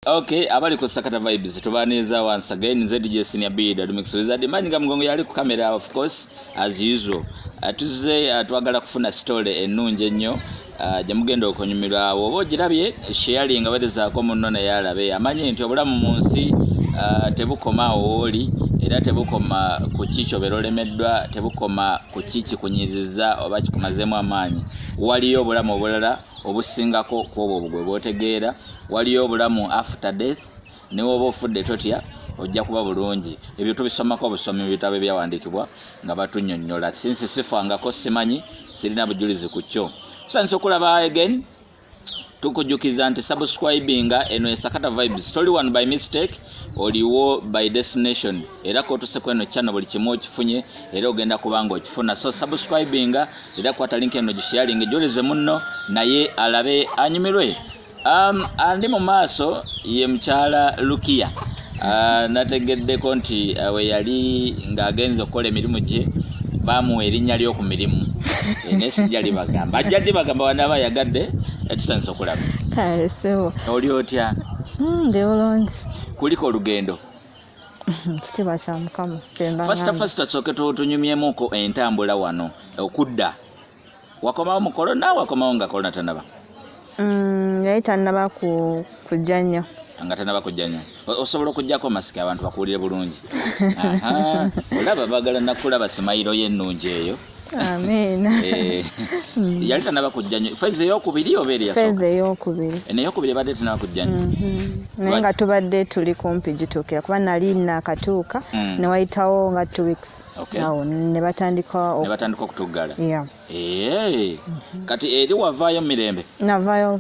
Okay, abali ku Sakata Vibes tubaniza once again nze DJ Senior B Dad Mix Wizard manyi nga mugongo yali ku camera of course as usual atuze uh, atwagala uh, kufuna story enungi ennyo uh, gye mugenda okunyumirwa awo oba ogirabye sharing nga batezaako munno naye alabe amanye nti obulamu mu nsi uh, tebukoma owooli era tebukoma ku ki kyobeera olemeddwa tebukoma ku ki kikunyiizizza oba kikumazeemu amaanyi waliyo obulamu obulala obusingako kwobwo bugwe bwotegeera waliyo obulamu after death newoba ofudde totya ojja kuba bulungi ebyo tubisomako obusomi mu bitabo ebyawandiikibwa nga batunyonyola sinsi sifangako simanyi sirina bujulizi ku kyo tusanyisa okulaba again tukujukiza nti subscribinga eno esakata vibes toli one by mistake oliwo by destination era kotuseko eno channel buli kimu okifunye era ogenda kubanga okifuna so subscribinga era kwata link eno gisharinge joleze munno naye alabe anyumirwe um, andi mu maaso ye mukyala lukiya uh, nategeddeko nti uh, we yali ng'agenze okukola emirimu gye bamuwa erinnya ly'oku mirimu eh, naye sijja libagamba ajja libagamba wanaaba ayagadde etusanisa eh, okulaba oli otya hmm, ndi bulungi kuliko olugendo kitiibwa kya mukama fasita fasita soke tunyumyemuko entambula wano okudda wakomawo mu kolona wakomawo nga kolona tanaba mm, yali tanaba kujja nnyo nga tanaba kujja nnyo osobola okujjako masiki abantu bakuwulire bulungi olaba bagala nakulaba simayiro yo ennungi eyo amiina eh, mm. yali tanaba kujja nyo feza eyokubiri oba eri feza eyokubiri eh, neyokubiri ebadde tanaba kujja nyo mm-hmm. naye nga tubadde tuli kumpi gituukira kuba nali nakatuuka mm. newayitawo nga two weeks awo nebatandika nebatandika okutuggala eh, mm-hmm. kati eri wavaayo mirembe navaayo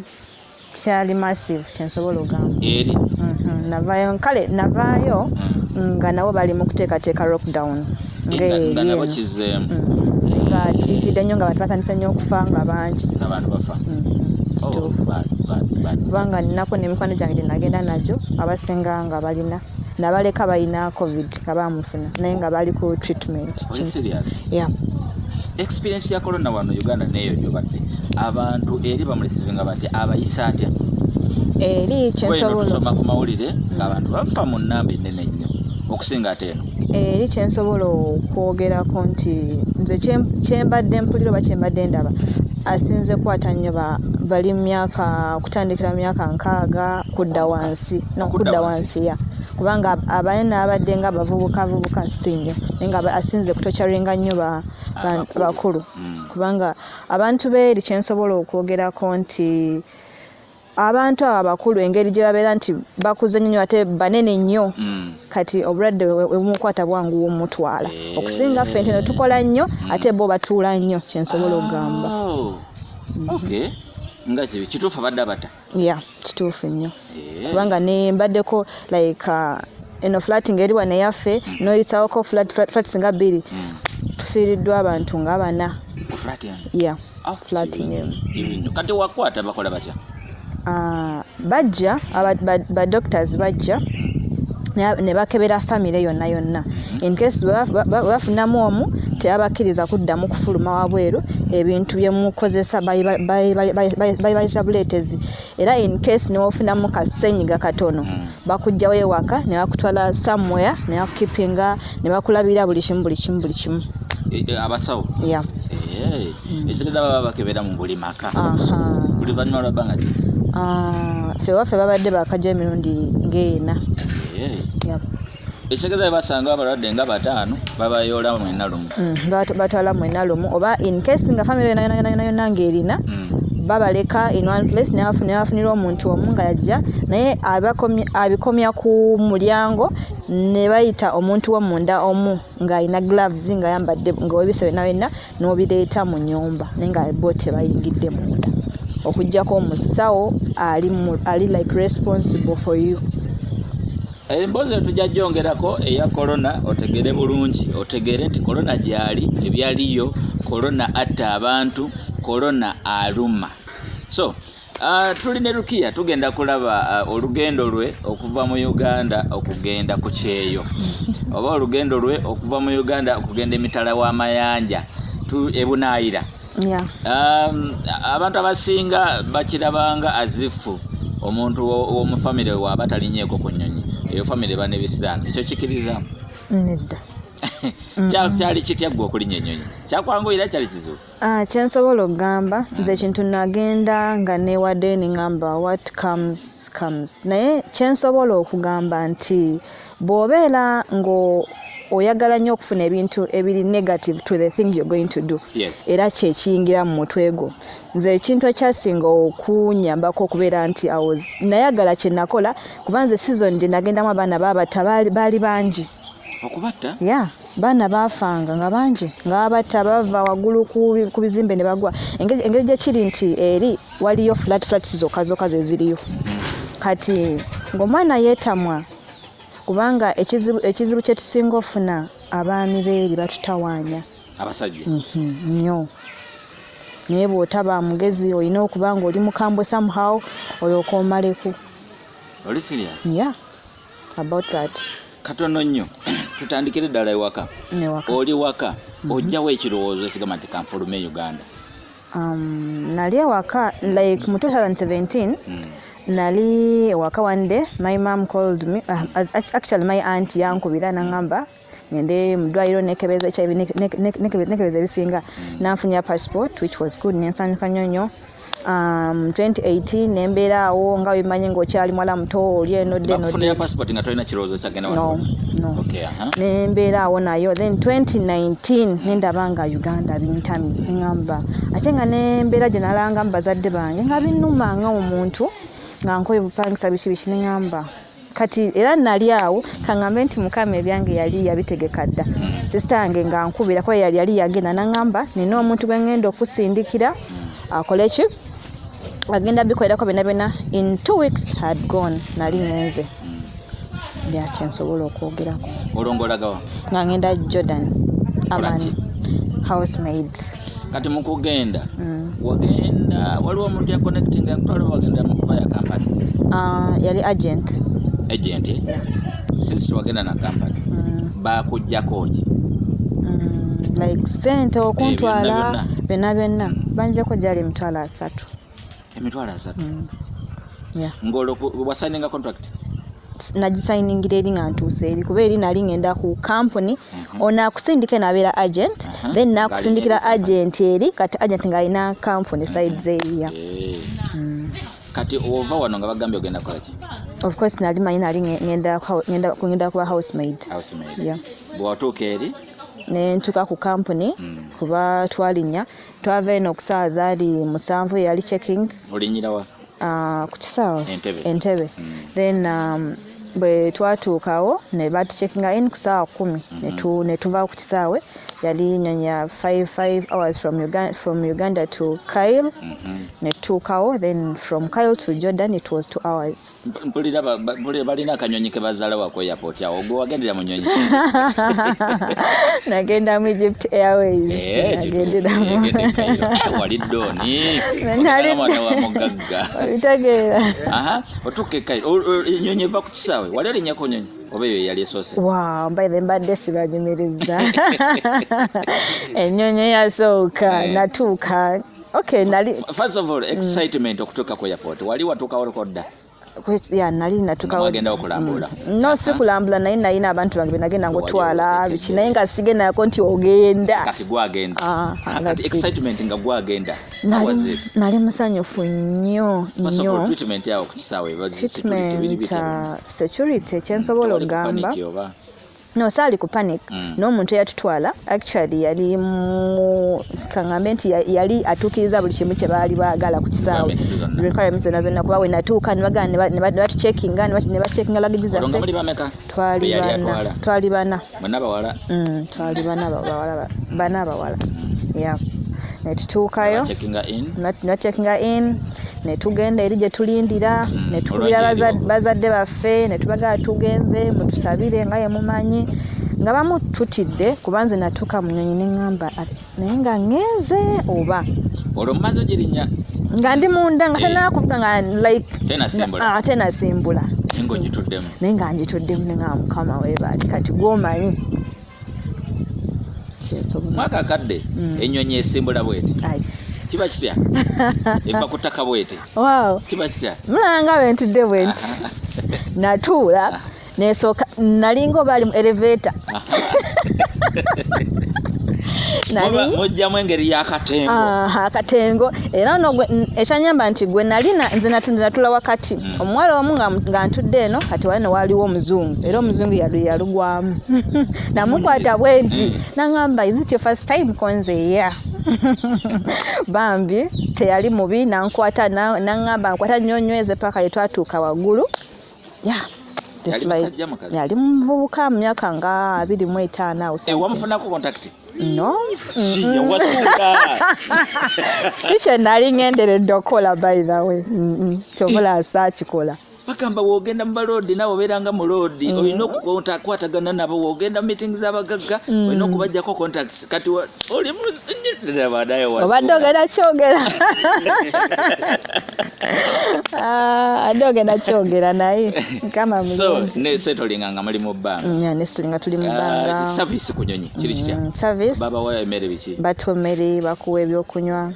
kyali massive kyensobola ogamba eri mhm, navayo kale navaayo mm. nga nabo bali mu kuteekateeka lockdown nga nabo kizeemu mm. nga kiikidde nnyo nga bantu batandise nnyo okufa nga bangi abantu bafa mm. oh, kubanga nako nemikwano gyange gyenagenda najo abasinga nga balina nabaleka balina covid nga bamufuna naye nga bali ku treatment yeah. experience ya corona wano uganda neyo gyobadde abantu eri bamulisivinga bati abayisa atya eri kyensobola ku mawulire ngaabantu bafa mu namba enene nnyo okusinga ate eno eri kyensobola okwogerako nti nze kyembadde mpulira oba kyembadde ndaba asinze kwata nnyo bali myaka okutandikira myaka nkaaga kudda wansi nokudda wansi ya kubanga abaye n'abadde nga bavubuka avubuka si nnyo naye nga asinze kutocaringa nnyo bakulu mm. kubanga abantu beeri kyensobola okwogerako nti abantu abo abakulu engeri gye babeera nti bakuze nnyo ate banene nnyo mm. kati obulwadde webumukwata bwangu womutwala eh. okusinga ffe ntino tukola nnyo mm. ate bo batuula nnyo kyensobola okugamba oh. nga kituufu abadde abata ya kituufu nnyo eh. kubanga ne mbaddeko like uh, eno flating eri wano eyaffe mm. noyisawoko flats nga bbiri mm. tufiiriddwa abantu nga bana ya ah, flating emu kati wakwata bakola batya ah, bajja badoctors bajja ne bakebera famire yonna yonna enkesi bwebafunamu omu tebabakkiriza kuddamu kufuluma wabweru ebintu byemukozesa bayibayisa buleetezi era enkesi newofunamu kasenyiga katono mm. bakujjawo ewaka nebakutwala somewhere nebakukipinga nebakulabira buli kimu buli kimu buli kimu Eh, eh, abasawo eh, mm. esineza baba bakebera mu buli maka buli vanyuma lwa bbanga ki ah, ffe waffe babadde bakaja emirundi ng'ena ekitegeza bebasanga abalwadde nga bataano babayoola mwena lumu mm, batwala mwena lumu oba incase nga famiry yonayonayonayona ngaerina mm. babaleka in one place nebafunira omuntu omu nga yajja naye abikomya ku mulyango nebayita omuntu womunda omu ngaalina gloves ngayambadde ngaowebisa wenawena n'obireeta mu nyumba naye nga bo tebayingidde munda okujjako omusawo ali, ali like responsible for you emboozi etujja gyongerako eya korona otegere bulungi otegere nti korona gyali ebyaliyo korona atta abantu korona aluma so Uh, tuli ne Rukia tugenda kulaba uh, olugendo lwe okuva mu Uganda okugenda ku kyeyo oba olugendo lwe okuva mu Uganda okugenda emitala w'amayanja ebunaayira yeah. um, abantu abasinga bakirabanga azifu omuntu w'omu famire waaba talinyeeko ku nnyonyi eyo famire bane bisiraano ekyo kikiriza nedda kyali kitya ggwe okulinya ennyonyi kyakwanguyira kyali kizibu Ah, kyensobola okugamba nze ekintu nagenda nga newade ningamba what comes comes naye kyensobola okugamba nti bwobeera nga oyagala nnyo okufuna ebintu ebiri negative to the thing you're going to do era kyekiyingira mu mutwe gwo nze ekintu ekyasinga okunyambako okubeera nti awo nayagala kyenakola kuba nze season gyenagendamu abaana baabata baali bangi okubatta ya baana baafanga nga bangi nga babatta bava waggulu ku bizimbe ne bagwa engeri gye kiri nti eri waliyo flat flats zokka zokka ze ziriyo kati ng'omwana yeetamwa kubanga ekizibu ekizibu kye tusinga ofuna abaami beeri batutawaanya abasajja mhm, nnyo naye bw'otaba mugezi olina okuba ng'oli mukambwe somehow olyoka omaleku oli serious ya yeah. about that katono nnyo tutandikire ddala ewaka oli waka mhm. ojjawo ekirowoozo ekigamba nti kanfulume e uganda um, nali ewaka like mu 2017 hmm. nali ewaka one day my mom called me uh, actually my aunt yankubira nangamba ngende mu ddwaliro nekebeza hiv nekebeza ebisinga nanfunya passport which was good nensanyuka nnyo nnyo um, 2018 nembeera awo nga wemanyi ngaokyali mwala muto oli enodenembeera awo nayo then 2019 nendaba nga uganda bintami neamba ate nga nembeera gye nalangamu bazadde bange nga binuma nga omuntu nga nkoye bupangisa biki biki neamba kati era nali awo kangambe nti mukama ebyange yali yabitegeka dda sisita yange nga nkubira kuba yali yali yagenda nangamba nina omuntu gwe ngenda okusindikira akole ki agenda bikolerako byona byona in two weeks had gone nali ngenze yakyensobola okwogerako olongolagawa nga ngenda jordan aman housemaid kati mukugenda mm. wagenda waliwo omuntu yaconnecting akutwala wagenda mukufaya kampani ah, yali agent agent eh? since wagenda na kampani mm. bakujjako ki mm, like sente okuntwala eh, byonna byonna banjako gyali emitwalo asatu emitwalo asatu mm. ng'olwo wasainenga contract nagisayiningira eri nga ntuuse eri kuba eri nali ngenda ku kampuni mhm. ono akusindika enabeera agent mhm. then nakusindikira agent eri kati agent ngaalina kampuni mhm. sides eriya eh. mm. kati ova wano nga bagambye ogenda kolaki of course nali manyi nali ngenda kuba housemaid bwewatuuka eri nentuka ku kampuni mm. kuba twalinya twava eno ku saawa zaali musanvu yali checking olinyirawa uh, ah, ku kisaawe entebe, entebe. Mm. then um, bwe twatuukawo ne batucekinga in ku saawa kumi mm-hmm. ne tuva ku kisaawe yali nyanya 55 hours from uganda, from uganda to kyle mm-hmm. ne tutuukawo then from kyle to jordan it was two hours mpulira balina akanyonyi kebazaalawa ku airport awo ogwe wagendera mu nyonyi nagenda mu egypt airwaysnagenderamuwali doni mwana wa mugagga obitegeera otuuka ekai enyonyi eva ku kisaawe wali olinyako nyonyi oba eyo eyali esoose wa mbaire mbadde sibanyumiriza enyonyi yasooka natuuka Okay, nali first of all mm. excitement mm. okutuka ku airport wali watuka watukawo dda ya nali natukawo agenda okulambula mm. no si kulambula naye nalina abantu bange benagenda ngotwala biki naye nga sigendako nti ogenda kati gwagenda ah, ah, kati excitement nga gwagenda nali, nali musanyufu nnyo nnyo treatment yawo ku kisaawe security kyensobola okugamba no saali ku panic mm. n'omuntu eyatutwala actually yali mu kangambe nti yali atuukiriza buli kimu kye baali baagala ku kisaawe requirements zonna zonna kuba wenatuuka nebagala nebatucekinga nebacekinga lagiji zaffe twali bana mm, twali bana bawala bana abawala mm. ya netutuukayo nacekinga in netugenda eri gye tulindira mm, netugumira bazadde baffe ffe ne tubagala tugenze mutusabire nga ye mumanyi nga bamu tutidde kuba nze natuuka mu nyonyi ne ŋŋamba naye nga ŋŋenze oba olwo mumaze ogirinya nga ndi munda nga eh. tenakuvuga nga like tenasimbula ah, naye nga ngituddemu ne ŋaa mukama webaali kati gwomanyi mwaka akadde mm. ennyonyi esimbula bweti kiba kitya eva ku ttaka bwete kiba kitya mulanga bentudde bwenti natuula nesooka nalinga obaali mu eleveta mujjamu engeri yakatengo akatengo era no ekyanyamba nti gwe nalina nze natula wakati omuwala omu nga ntudde eno kati wali newaaliwo omuzungu era omuzungu yalugwamu namukwata bwe nti nangamba is it your first time konze ya bambi teyali mubi nankwata nangamba nkwata nnyo nyweze paka lyetwatuuka waggulu ya yali muvubuka mu myaka nga abiri mu etaano awo no siya wasuula si kye nali ngenderedde okukola by the way kyovula asaakikola bagamba wogenda mu baloodi nawe obeera nga muloodi mm. olina okukwatagana nabo wogenda mu meeting z'abagagga mm. olina okubajjako contacts kati oli muobadde ogenda kyogera ah, adde ogenda kyogera naye mukama mseetolinga nga muli mu bbanga mm, nestolinga tuli mu bbanga ah, service kunyonyi kiri kitya mm, service baba wa emere biki batu emere bakuwa ebyokunywa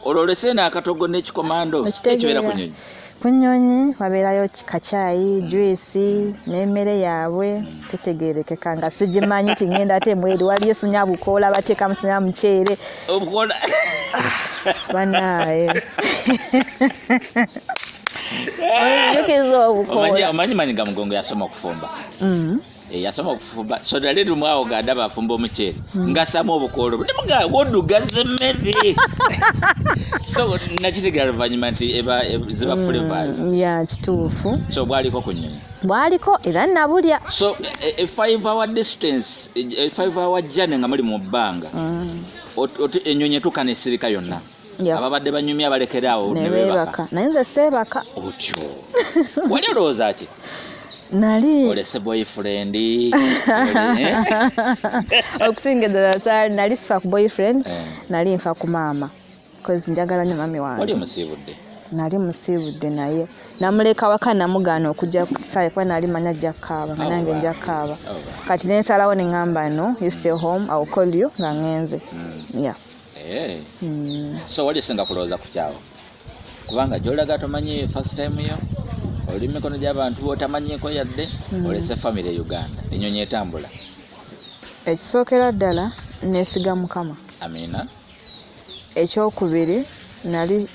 ololese eno akatogo n'ekikomando ekibeera ku nyonyi ku nyonyi wabeerayo kacaayi mm. juisi n'emmere yaabwe mm. tetegerekeka nga sigimanyi ti ngenda ate mweri waliyo sinya bukoola bateekamu sinya muceere obukoola banaye omanyi manyi nga mugongo yasoma okufumba mm. Eh, yasoma okufumba soda lero mwawo ganda bafumba omuceere hmm. ngasamu obukoolo nemuga wodugaza emmere so nakitegera luvannyuma nti ziba hmm, flavors ya kituufu so bwaliko ku nyonyi bwaliko era nabulya so e, e five hour distance e, e five hour journey nga muli mu bbanga hmm. enyonyi etuuka nesirika yonna ababadde banyumya balekere awo nebebaka naye nze seebaka otyo wali olowooza ki nali olese boyfriend eh? okusinga eddala sa nali sifa ku boyfriend eh. nali nfa ku maama bcause njagala nyo mami wange wali omusiibudde nali musiibudde naye namuleka waka namugaana okujja ku kisaawe kuba nali manya ajja kukaaba nga nange nja kukaaba kati nensalawo ne ŋŋamba no you stay home i will call you nga ŋŋenze hmm. yeah Hey. Eh. Mm. So wali singa kulowooza ku kyawo kubanga gyolaga tomanyi first time yo oli mikono gy'abantu botamanyiko yadde mm. olese famire e uganda enyonyi etambula ekisookera ddala nesiga mukama amina ekyokubiri nali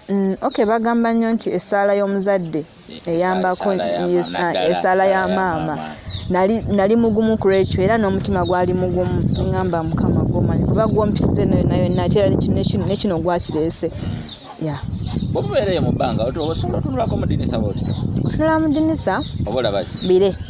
mm, ok bagamba nnyo nti essaala y'omuzadde eyambako esaala ya maama nali mugumu ku lwekyo era n'omutima gwali mugumu neŋamba mukama gwomanyi kuba gwompisiza eno yona yonna ate era nekino gwakireese ya bwomubeereyo mu bbanga osobola otunulako mu dinisa bwotyo otunula mu dinisa oba olabaki bire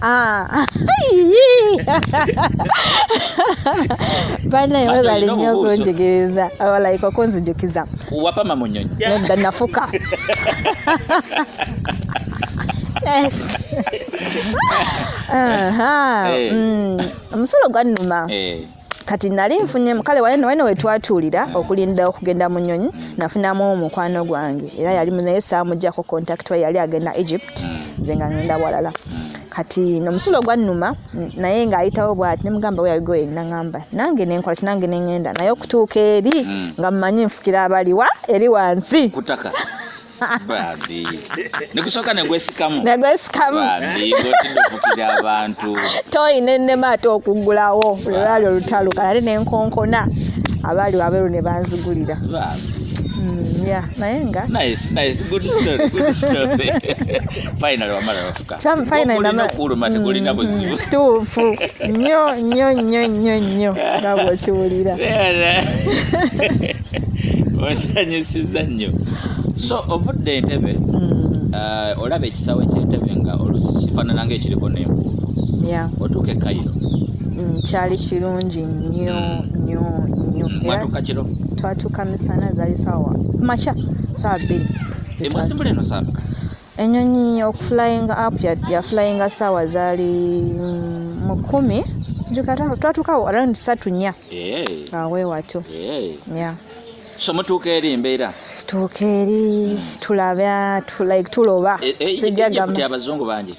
Ah. banaye webale nnyo okunjigiriza abalayika okunzijukiza wapama mu nyonyi nedda nafuka omusolo eh. mm. gwannuma eh. kati nali nfunye kale wayeno wayeno wetwatuulira okulinda okugenda mu nyonyi nafunamu omukwano gwange era yali munaye saamujjako contact wa yali agenda egypt nze nga ngenda walala kati nomusulo gwannuma naye ngaayitawo bwati nemugamba weyagoye naamba nange nenkola ti nange nengenda naye okutuuka eri mm. nga mumanyi nfukira abaliwa eri wansi bambi nekusooka negwesikamu negwesikamu bambi ngotidde okukira abantu toyi nenema ate okuggulawo olwali olutalo kale nenkonkona abaali wabeeru ne banzigulira mm, naye nga okuluma tekulina buzibu mm-hmm. kituufu nnyo nnyo nnyo nnyo nnyo nga bwokiwulira osanyusiza nnyo so ovudde entebe mm. uh, olaba ekisawo ekyentebe nga olusi kifaanana nga ekiriko n'enfuufu otuuka e kayiro mm, kyali kirungi nnyo mm. nnyo nnyo mwatuuka kiro twatuuka misana zali sawa makya sawa bbiri emwasimbula eno sawa Enyonyi okuflying up ya, ya flying sawa zali mm, mukumi twatukawo around satu nya yeah. awe watyo yeah. yeah. so mutuuka eri embeera tutuuka eri tulaba like tuloba e, e, e, sijagamba abazungu bangi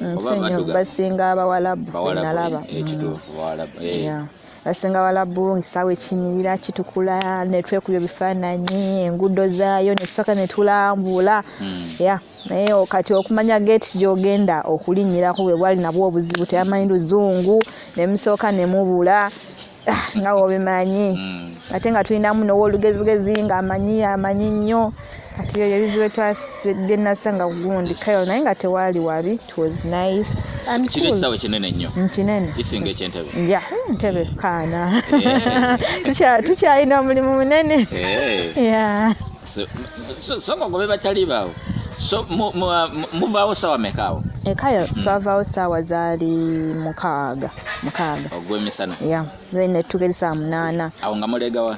mm, nsinyo basinga abawalabu nalaba mm. abasinga balabu ngisaawa ekiyimirira kitukula netwekuba ebifaananyi enguudo zaayo netusooka netulambula hmm. ya naye kati okumanya geeti gyogenda okulinnyirako bwe bwali nabwo obuzibu teyamanyi luzungu nemusooka nemubula ah, nga wobimanyi hmm. ate nga tulinamu nowolugezigezi nga amanyi amanyi nnyo kati ebyo ebizibu bye nasanga ku gundi kayol naye nga tewaali wabi it was nice kino ekisawe kinene nnyo nkinene mm, kisinga ekyentebe ya ntebe kaana eh. tukyalina omulimu munene eh. so nga ngobe bakyali baawo so muvaawo sawa mekaawo ekayo eh, mm. twavaawo saawa zaali mukaaga mukaaga ogwemisana ya then netugeri saa munaana awo nga mulegawa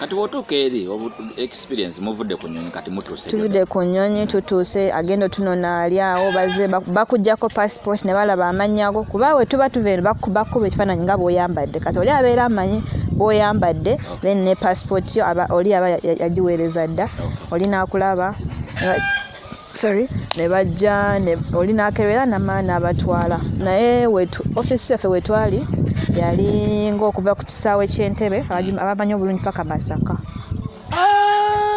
kati wotuuka eri experience muvudde ku nyonyi kati mutuuse tuvudde ku nyonyi tutuuse agenda otunona ali awo baze bakujjako passport ne balaba amanyago kuba we tuba tuva eno bakuba ekifaananyi nga bwoyambadde kati oli abeera amanyi bwoyambadde then ne passport yo oli aba yagiweereza dda oli nakulaba sorry ne bajja oli n'akebera namala n'abatwala naye ofiisi yaffe wetwali yali ngaokuva ku kisaawe ky'entebe abamanyi obulungi paka masaka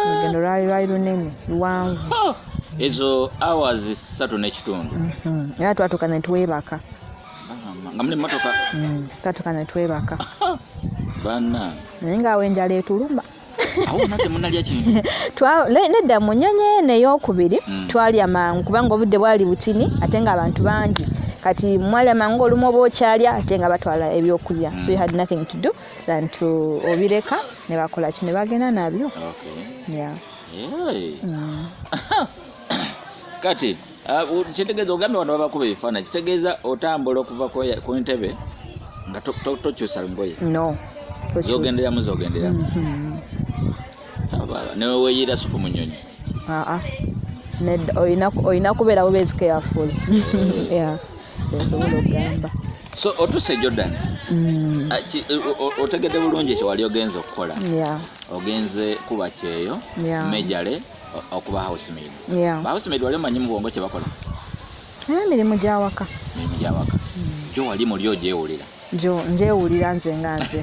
olugendo lwali lwali lunene luwanvu oh! ezo hours ssatu n'ekitundu mhm. era twatuuka ne twebaka nga muli motoka mm, twatuuka ne twebaka banna naye ng'awo enjala etuluma nedda mu nyonyi eno eyokubiri hmm. twalya mangu kubanga obudde bwali butini ate nga abantu bangi kati mwalya mangu olumu oba okyalya ate nga batwala ebyokulya so you had nothing to do than to obireka ne bakola ki ne bagenda nabyo hmm. kati Ah, kitegeeza ogambye wano babakuba ebifaananyi kitegeeza otambula okuva ku ntebe nga tokyusa ngoye no zogenderamu zogenderamu mm-hmm. newe weyiira supu mu nyonyi ah, ah. olina kubeera bubeezi careful eh. esobola okugamba so otuse jordan mm. otegedde bulungi ekyo wali ogenze okukola ogenze kuba kyeyo mejale okuba housemaid yeah. ba housemaid wali omanyi mu bwongo kye bakola naye eh, mirimu gyawaka mirimu gyawaka gyo hmm. wali muli ogyewulira gyo ngyewulira nze nga nze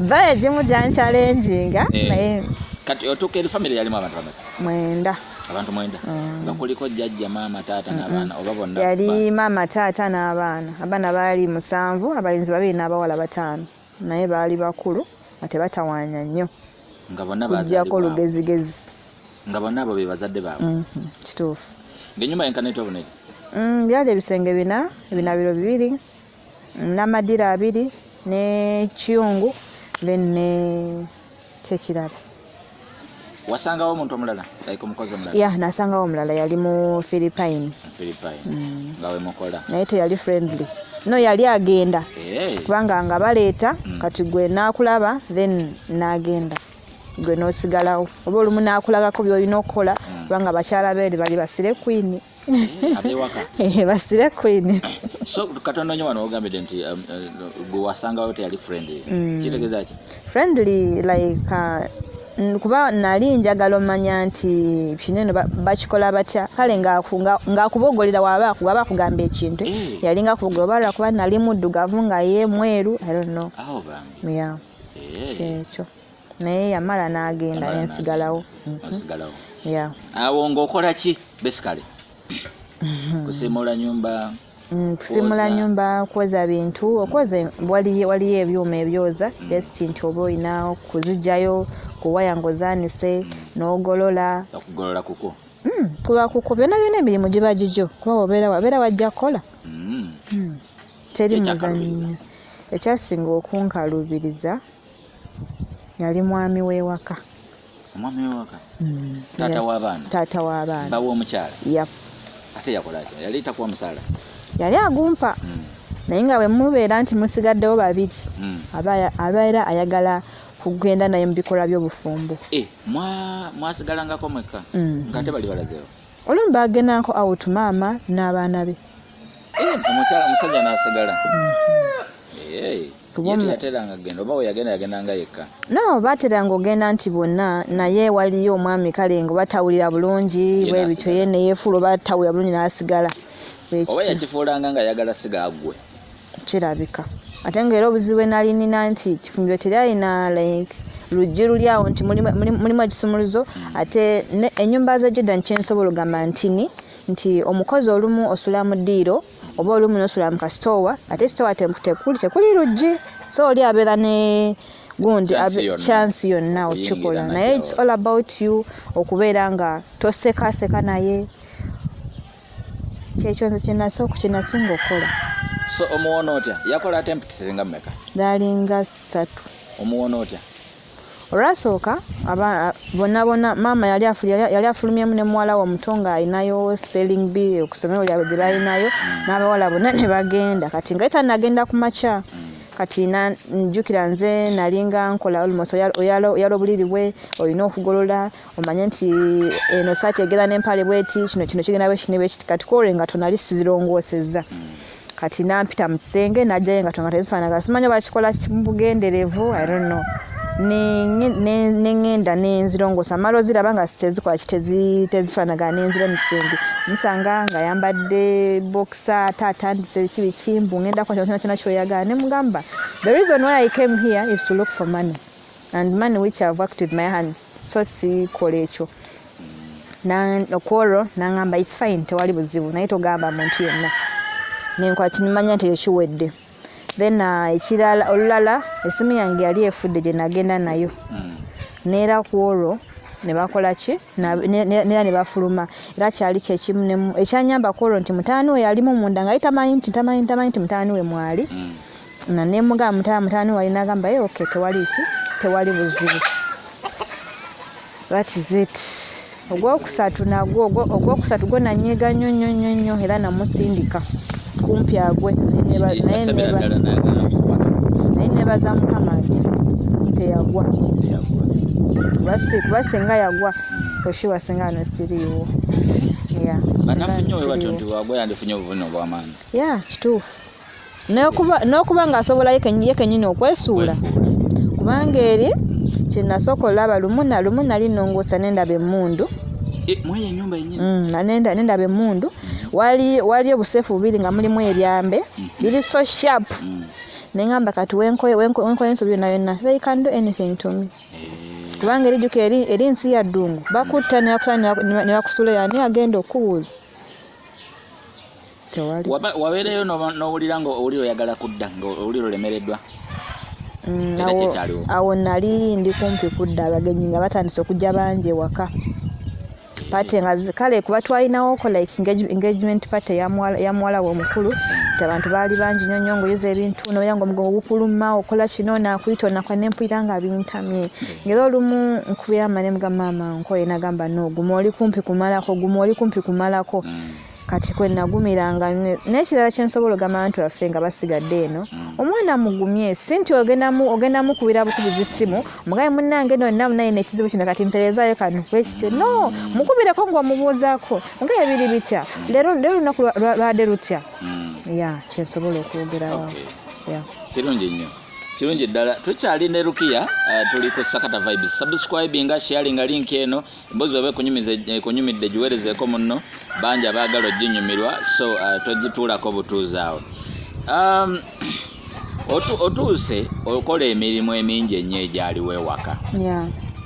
ba egimu gyankyalenjinga eh. naye kati otuuka eri famire yalimu abantu bameka mwenda abantu mwenda hmm. nga kuliko jjajja maama taata hmm. n'abaana oba bonna yali maama taata n'abaana abaana baali musanvu abalenzi babiri n'abawala bataano naye baali bakulu nga tebatawaanya nnyo kujjako lugezigezi nga bonna abo be bazadde baabwe mhm, kituufu ngaenyumba yenkana etya obunene mm, byali ebisenge bina ebinabiro bibiri namadira abiri ne kiyungu then ne kyekirala wasangawo omuntu omulala like omukozi omulala yeah nasangawo omulala yali mu philippine philippine mm. nga wemukola naye teyali friendly no yali agenda hey. Eh. kubanga nga baleeta mm. kati gwe nakulaba then nagenda gwe nosigalawo oba olumu nakulagako byolina okukola mm. kubanga bakyala beeri bali basire kwini abewaka eh, basire queen so katonda nyo wano ogambide nti um, uh, gwe wasangawo teyali friendly mm. kitegeza ki friendly like uh, kuba nali njagala omanya nti kino eno bakikola batya kale ngaakubogolera waba waba akugamba ekintu eh. yali nga kubogolera oba lwakuba nali muddugavu nga ye mweru i don't know oh, yeah. Eh. kyekyo yeah. naye yamala n'agenda nensigalawo mhm. awo ngaokola ki besikale mhm. kusimula nyumba mm, kusimula nyumba kwoza bintu okwoza waliyo ebyuma ebyoza mm. just nti oba olina kuzijayo kuwaya ngozanise mm. nogolola okugolola kuko Hmm, kuba kuko byona byona emirimu giba gigyo kuba wabeera wabeera wajja kukola hmm. Hmm. teri muzanyo ekyasinga okunkalubiriza yali mwami w'ewaka omwami w'ewaka mm, taata w'abaana taata w'abaana bawa omukyala yep. ate yakola atya yali takuwa musaala yali agumpa mm. naye nga bwe mubeera nti musigaddewo babiri mm. abeera ayagala kugenda naye mu bikolwa by'obufumbo eh, mwasigalangako mwekka mm. nga ate bali balazeewo olumu bagendanko awutu maama n'abaana be eh, omukyala omusajja n'asigala mm-hmm. eh. no bateranga ogenda nti bonna naye waliyo omwami kale nga batawulira bulungi bwe bityo ye neyefuula oba tawulira bulungi n'asigala oba yakifuulanga nga ayagala siga agwe kirabika ate nga era obuzibu enali nina nti kifumbiro teri alina like luggi luli awo nti mulimu ekisumuluzo hmm. ate enyumba za jordan kyensobola ogamba ntini nti omukozi olumu osula mu ddiiro oba olumu nosula mu kasitoowa ate sitoowa tekuli tekuli luggi so oli abeera ne gundi chance yonna okikola naye its all about you okubeera nga tosekaseka naye kyekyo nze kyenasooka kyenasinga okukola so omuwona otya yakola atemptisi nga meka dalinga satu omuwona otya olwasooka bonna bonna maama yali yali afulumyemu ne muwala we omuto ng'alinayo spelling b okusomero lyabwe gye balinayo mm. n'abawala bonna ne bagenda kati nga eta nagenda ku makya mm. kati njjukira nze nalinga nkola olmost oyala obuliri bwe olina okugolola omanye nti eno saati egenda nempale bweti kino kino kigenda bwekini bwekiti kati kore nga tonali sizirongoseza kati nampita mu kisenge najjayo nga tonga tezifaanagana simanyi oba kikola bugenderevu i don't know neŋŋenda nenzirongoosa mala oziraba nga tezikola tezifaanagana nenzira mu kisenge musanga nga yambadde bokisa ate atandise ki bikimbu ŋŋenda kwa kyona kyona kyoyagala ne mugamba the reason why i came here is to look for money and money which I've worked with my hands so si kola ekyo okwolwo nangamba its fine tewali buzibu naye togamba muntu yenna nenkwakimanya nti eyo kiwedde then uh, ekirala olulala esimu yange yali efudde gye nagenda nayo hmm. neera kwolwo nebakola ki neera nebafuluma era kyali kyekimu ekyanyamba kwolwo nti mutaani we yalimu munda nga ye tamanyi nti tamanyi tamanyi nti mutaani we mwali mm. na nemuga mutala mutani wali nagamba ye eh, okay tewali ki tewali buzibu that is it ogwokusatu nagwo ogwokusatu gwo nanyiga nnyo nnyo nnyo nnyo era namusindika kumpi agwe naye nebaza mukama nti teyagwa kuba singa yagwa oshiwa singa ano siriiwo eh? banafunye oyo batyo nti wagwa yandifunye obuvune obwamaanyi ya kituufu n'okuba ng'asobola ye kennyini okwesuula kubanga eri kye nasooka olaba lumu na lumu nali nnongoosa ne ndaba emmundu e, mm, ne ndaba emmundu waliyo obuseefu bubiri nga mulimu ebyambe mm. biri so sharp mm. ne ŋamba kati wenkola ensobi yonna yonna they can do anything to me eh. kubanga erijjuka eri nsi ya ddungu bakutta ne bakusuula yani agenda okukubuuza wabeereyo n'owulira nga owulira oyagala kudda nga owulira olemereddwa mm, awo nali ndi kumpi kudda abagenyi nga batandise okujja bangi ewaka pate nga kale kuba twalinawo ko like engagement pate yamuwala we omukulu nti abantu baali bangi nyo nyo ngaoyoza ebintu noya nga omugongo gukuluma okola kino nakuyita onakwa nempulira nga bintamye mm. ngaera olumu nkubira mane mga maama nkoye nagamba no guma oli kumpi kumalako guma oli kumpi kumalako mm. kati kwe nagumiranga n'ekirala kye nsobola ogamba abantu baffe nga basigadde eno mm. omwana mugumye si nti ogenda mukubira bukubiza essimu mugabe munnange no namu naye nekizibu kino kati mpereezaayo kano bwekityo no mukubireko ngaomubuuzaako mugabe biri bitya leero lunaku lwade lutya mm. ya kyensobola okwogerawo kirungi nnyo kirungi ddala tukyali ne rukiya uh, tuli ku sakata vibes subscribinga sharinga link eno embozi oba ekunyumidde giwerezeeko munno bangi abaagala oginyumirwa so uh, togituulako butuuzi awo um, otuuse okola emirimu emingi ennyo egyaliwo ewaka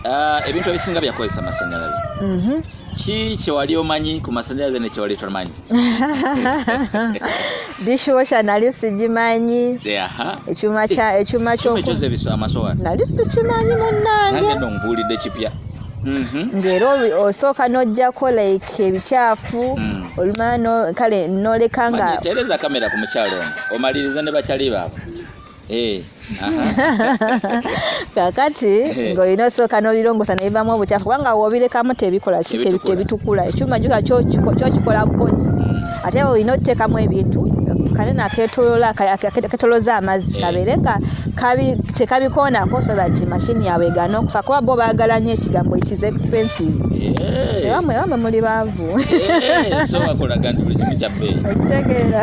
uh, ebintu ebisinga byakozesa amasanyalaze mm-hmm. ki kyewali omanyi ku masanyalaze nekyewali tomanyi dishwasha nali sigimanyi ekyuma kya ekyuma kyo nali sikimanyi munange nongulide kipya mhm. ngero osooka nojjako like ebikyafu mm. olumala kale noleka nga tereza kamera ku mukyalo omaliriza ne bakyali baabwe Eh, kakati eh. ng'olina osooka n'obirongosa ne bivaamu obukyafu kubanga wobirekamu tebikola ki tebitukula ekyuma juka kyokikola bukozi ate olina otuteekamu ebintu kanene aketolola aketoloza amazzi eh. kabeere nga tekabikoonako so that mashini yaabwe egana okufa kuba bo baagala nnyo ekigambo it is expensive ewamwe ewamwe muli baavu ekitegeera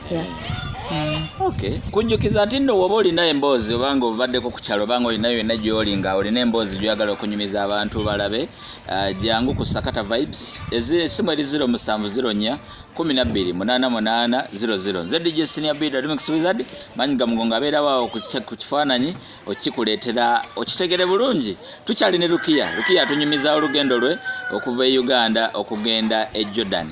Yeah. Mm. Okay. Kunjukiza nti nno woba olina emboozi obanga obaddeko ku kyalo obanga olinayo yonna gyoli nga olina emboozi gyoyagala okunyumiza abantu balabe uh, jangu ku sakata vibes esimu eri 0704 12 88 00 nze dj senior bid remix wizard manyi gamugongo abeerawo ku kifaananyi okikuleetera okitegere bulungi tukyali ne lukiya lukiya atunyumiza olugendo lwe okuva e uganda okugenda e jordan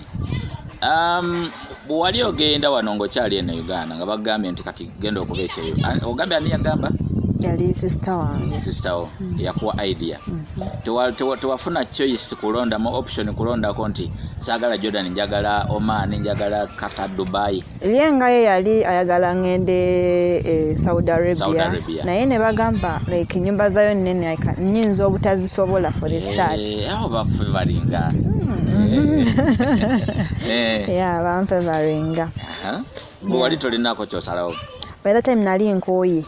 um, bwewali ogenda wano ngaokyali eno e uganda nga bagambye nti kati genda okuba ekyeyo ogambye ani yagamba yali sisita wange sisita wo mm. yakuwa idea mm-hmm. tewafuna choice kulondamu option kulondako nti saagala jordan njagala oman njagala kata dubai ye nga ye yali ayagala ngende e saudi arabia naye ne bagamba like enyumba zayo nene nyinza obutazisobola for the start eh, awo bakufe balinga hmm. eh. ya bamfe balinga wali tolinako kyosalawo by the time nali nkooye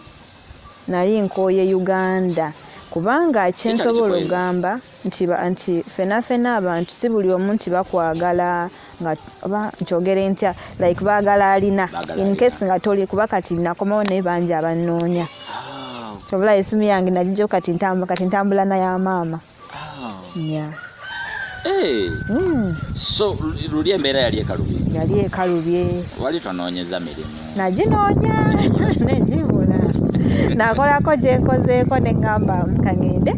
nali nkooye uganda kubanga kyensobola ogamba nti nti fena fena abantu si buli omu nti bakwagala nga oba nkyogere ntya like baagala alina in case nga toli kuba kati nakomawo naye bangi abannoonya ah. kyobula esimu yange nagijo kati ntambula kati ntambula naya maama Ah. Yeah. Hey. Eh. Mm. So luli embeera yali ekalubye yali ekalubye wali tonoonyeza mirimu naginoonya negibula nakolako gyekozeeko neŋŋamba kangende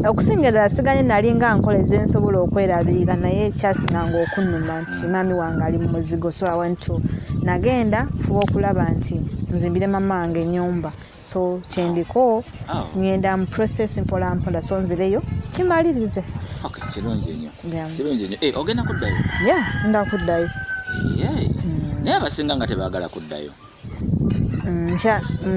okusinga ddala siganye nali nga nkola ezensobola okwerabirira naye ekyasinanga okunuma nti mm. maami wange ali mu muzigo so awantu nagenda fuba okulaba nti nzimbire mama wange enyumba mm. so kyendiko ah. ngenda mu process mpola mpola so nzireyo kimalirize kirungi enyo kirungi enyo eh, ogenda kuddayo ya nga kuddayo mm. naye abasinga nga tebagala kuddayo mm,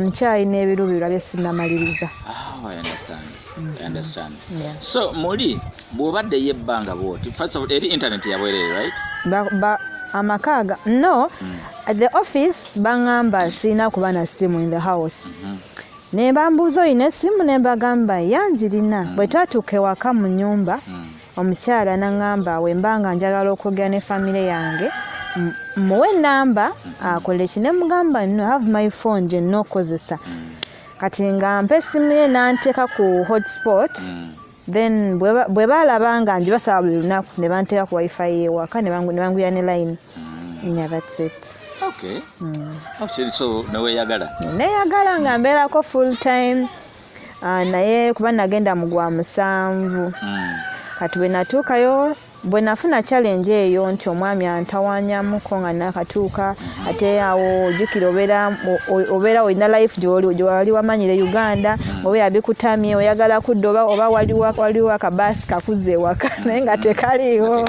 nkyalina ebirubirirwa bye sinamaliriza ah, Mm-hmm. understand yeah. so muli bwobadde yebbanga bwoti first of all eri internet yabwerere right ba, ba amakaaga no mm. at the office bangamba sirina kuba na simu in the house mm -hmm. ne bambuuza olina esimu ne mbagamba yangirina mm. bwe twatuuka ewaka mu nyumba mm. omukyala nangamba wemba nga njagala okwogera ne famire yange muwe namba mm-hmm. akole ki ne mugamba no have my phone gye nnokozesa mm. kati nga mpa essimu ye n'anteeka ku hotspot mm. then bwe baalaba nga ngi basaba buli lunaku ne banteeka ku wifi yewaka ne banguya ne line mm. nya that's it okay. mm. actually so neweyagala neyagala nga mbeerako full time uh, naye kuba nagenda mu gwa musanvu mm. kati bwe natuukayo bwe nafuna challenge eyo nti omwami antawanyamuko nga nakatuuka ate awo ojukira obeera obeera olina life gyoli gyewali wamanyire uganda mm. obeera bikutamye oyagala kudda oba oba waliwo waliwo akabaasi kakuza ewaka mm. naye nga tekaliiwo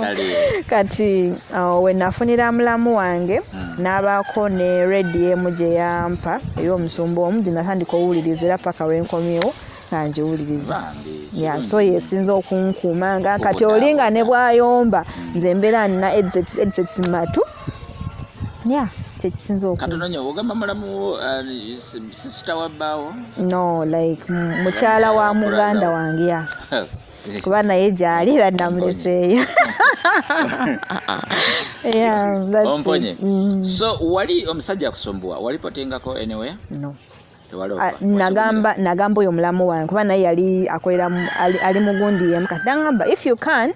kati uh, we nafunira mulamu wange mm. n'abaako ne redi emu gye yampa ey'omusumba omu gye natandika owuliriza era paka wenkomyewo angiwuliriza so yesinza okunkuuma nga kati olinga ne bwayomba hmm. nze mbeera nina edsets mu matu ya kyekisinza okugamba mulamu uh, sisita wa bbaawo no like mukyala wa muganda wange ya kuba naye gyali era namuleseeyo omponye mm. so wali omusajja akusumbuwa wali potengako anywhere no Ah, nagamba nagamba oyo mulamu wange kuba naye yali akolera ali mugundi yemu kati nagamba if you can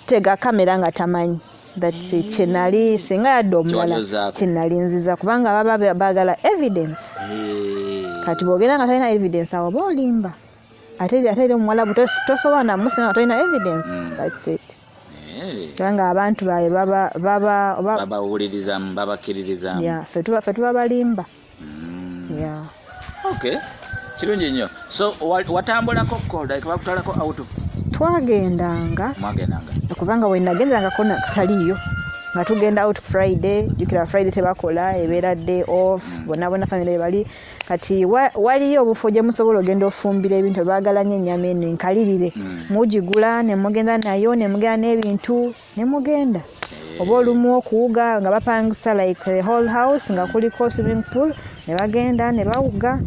tega kamera nga tamanyi that's it kyenali singa yadde omulala kyenali nziza kubanga baba bagala evidence kati bwogera nga talina evidence awo oba olimba ate ate eri omuwalabu tosobola namusinga nga talina evidence hmm. that's it kubanga abantu baye baba baba babawulirizamu babakiririzamu fe tuba balimba mm. yeah. okay kirungi nnyo so watambulako kolda ekabakutwalako auto twagendanga mwagendanga kubanga wenagendangako taliyo nga tugenda out friday jukira friday tebakola ebeera day off mm. bona bona family bali kati waliyo obufo gye musobola ogenda ofumbira ebintu ebagala nyo enyama eno enkalirire mm. mugigula nemugenda nayo nemugenda n'ebintu ne mugenda eh. oba olumu okuwuga nga bapangisa like the whole house nga kuliko swimming pool ne bagenda ne bawuga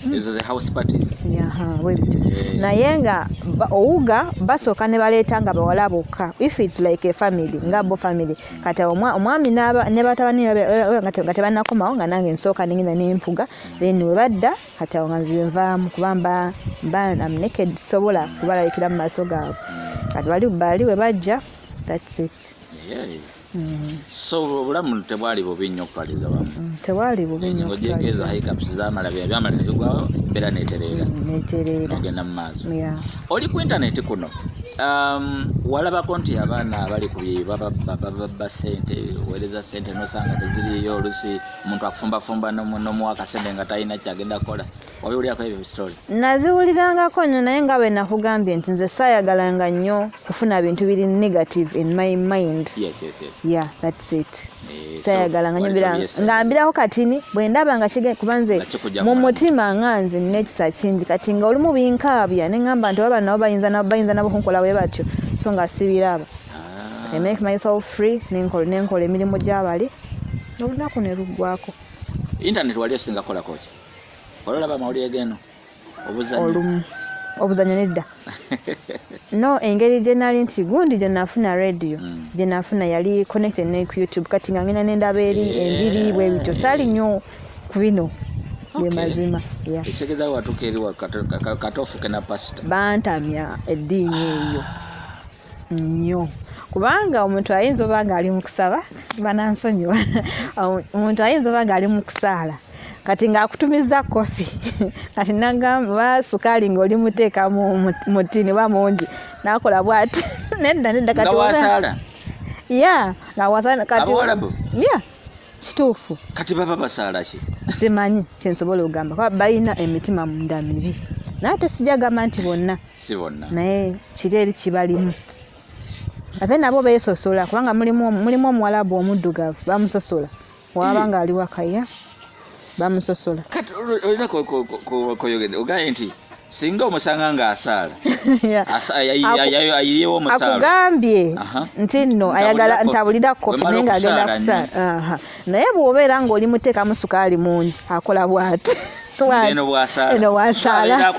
hmm. ezo ze house parties yaha webit eh. naye nga owuga basooka ne baleeta nga bawala bokka if it's like a family nga bo family kati omwami ne batabani nga tebanakomawo nga nange nsooka nengenda nempuga then webadda kati awo nga nzize nvaamu kuba mba mba am naked sobola kubalabikira mu maaso gaabwe kati bali bali we bajja that's it mm. so obulamu tebwali bubi nnyo okupaliza wamu mm, tebwali bubi nnyo ojekeeza hiccups zamala byamala nebigwawo embeera netereera mm, netereera ogenda mu maaso oli ku internet kuno um, walabako nti abaana abali ku bye bababba sente owereza sente nosanga teziriyo olusi omuntu akufumbafumba nomuwa akasente nga talina kyagenda kukola wabiwulirako ebyo story naziwulirangako nyo naye nga bwe nakugambye nti nze saayagalanga nnyo kufuna bintu biri negative in my mind yes, yes, yes. yeah that's it eh, sayagalanga nyo bira nga mbirako katini bwe ndaba nga kige kuba nze mu mutima nga nze nina ekisa kingi kati nga olumu binkaabya ne ŋŋamba nti oba nabo bayinza nabo bayinza nabo kunkola bwe batyo so nga sibiraba ah. i make myself free nenkola emirimu gyabali olunaku ne luggwako intaneti wali osinga kolako ki wali olaba amawulire geno obuzanyo obuzanyo nedda no engeri gyenali nti gundi gyenafuna radio mm. gyenafuna yali connected ne ku youtube kati nga ngenda nendaba eri eh. enjiri bwe bityo saali nnyo ku bino bemazima ekitegeeza watuka eri katofu kena pasita bantamya eddiini eyo ah. nnyo kubanga omuntu ayinza oba nga ali mu kusaba banansonyiwa omuntu ayinza oba nga ali mu kusaala kati ng'akutumiza kofi kati nagamba oba sukaali ng'oli muteeka mu tiini oba mungi nakola bwati nedda nedda kati ya nga wasala kati ya kituufu kati baba basaala ki simanyi kyensobola okugamba kuba balina emitima munda mibi naye ate sijagamba nti bonna si bonna naye kiri eri kibalimu ate nabo beesosola kubanga mulimu omuwalabu omuddugavu bamusosola waaba eh. ng'ali wakaya bamusosola kati olina koyogede ogaye nti singa omusanga nga asaala ayiyewo omusaala akugambye nti nno ayagala ntabulira kofi naye nga agenda kusaala naye bw'obeera ng'oli muteekamu sukaali mungi akola bwati eno bwasaala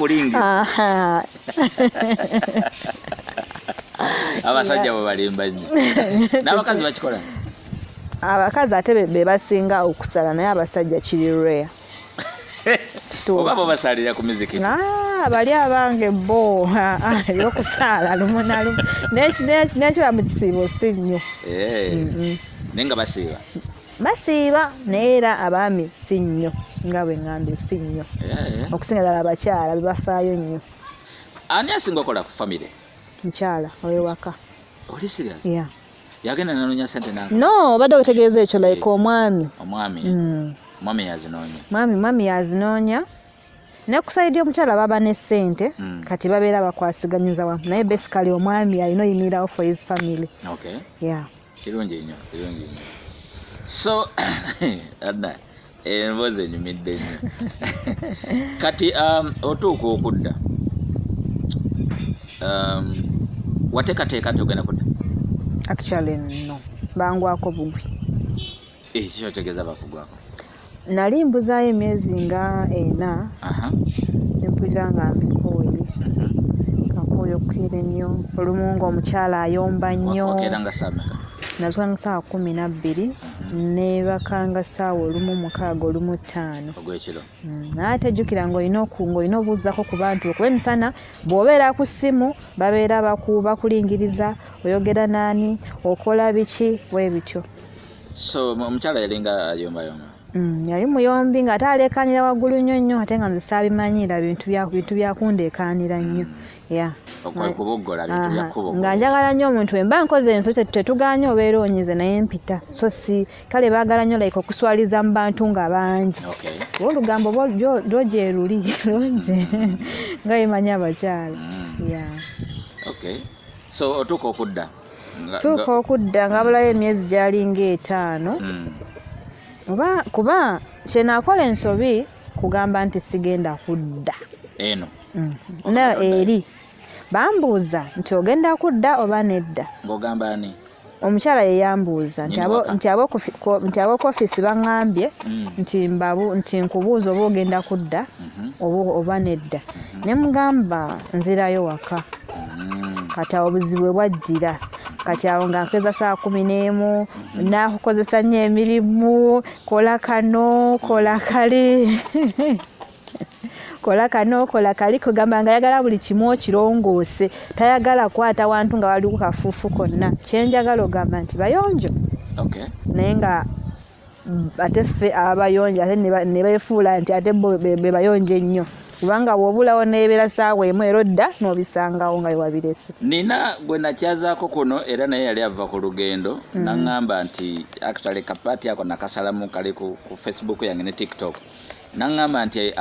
abasajja bwe balimba nnyo n'abakazi bakikola abakazi ate be basinga okusala naye abasajja kiri rare oba bo basalira ku miziki ah, bali abange bo ebyokusaala lumu na lumu nekiba mu kisiibo si nnyo eh, naye nga basiiba basiiba naye era abaami si nnyo nga bwe ŋŋambye si nnyo eh. okusinga ddala abakyala be bafaayo nnyo ani asinga okola ku famire mukyala owewaka oli sirias ya yagenda nanoonya sente na no obadde otegeeza ekyo eh. like omwami omwami mm. omwami yazinoonya mwami mwami yazinoonya nekusayidi omukyala baba ne sente mm. kati babeera bakwasiganyiza wamu naye basically omwami alina oyimirirawo for his family okay. yeah. kirungi nnyo kirungi nnyo so adda emboozi enyumidde nnyo kati um, otuuka okudda um, wateekateeka nti ogenda kudda actually no bangwako bugwi ekyo eh, kyotegeeza bakugwako nali mbuzaayo emyezi nga ena nempulira nga mbikooye kakooye mhm. okukeera ennyo olumu nga omukyala ayomba nnyo nazukanga saawa kumi nabbiri mhm. nebakanga saawa olumu mukaaga olumu ttaano mm, naye ate jjukira ngaolina ngaolina obuuzako ku bantu okuba emisana bw'obeera ku ssimu babeera bakulingiriza oyogera naani okola biki webityo so omukyala yalinga ayombayomba mm, yali muyombi nga ate aleekaanira waggulu nnyo nnyo ate nga nze saabimanyiira bintu byakundeekaanira nnyo mm. nga njagala nnyo omuntu wemba nkoze enso tetuganye obeera onyize naye mpita so si kale baagala nnyo like okuswaliza mu bantu nga bangi oba olugambo lwogyeruli lwoje nga yemanya abakyala mm. so otuuka okudda tuuka okudda ngabulayo emyezi gyalinga etaano hmm. oba kuba kyenakola ensobi kugamba nti sigenda kudda eno hmm. na eri bambuuza nti ogenda kudda oba nedda ngaogamba ani omukyala yeyambuuza nti ab'oku ofiisi baŋambye hmm. nti nkubuuza oba ogenda kudda mhm. oba nedda mhm. ne mugamba nzirayo waka mm. kati awo obuzibu bwe bwajjira kati awo nga nkeza saa kumi n'emu mhm. nakukozesa nnyo emirimu kola kano kola kali kola kano kola kali kugamba nga ayagala buli kimu okirongoose tayagala kwata wantu nga waliwo kafuufu konna kyenjagala ogamba nti bayonjo naye nga ate ffe abayonja ate ne befuula nti ate bo be bayonja ennyo kubanga bwobulawo nebeera saawa emu era odda nobisangawo nga wewabirese nina gwe nakyazaako kuno era naye yali ava ku lugendo mm. naŋŋamba nti actually kapaati ako nakasalamu kali ku facebook yange ne tiktok naŋŋamba nti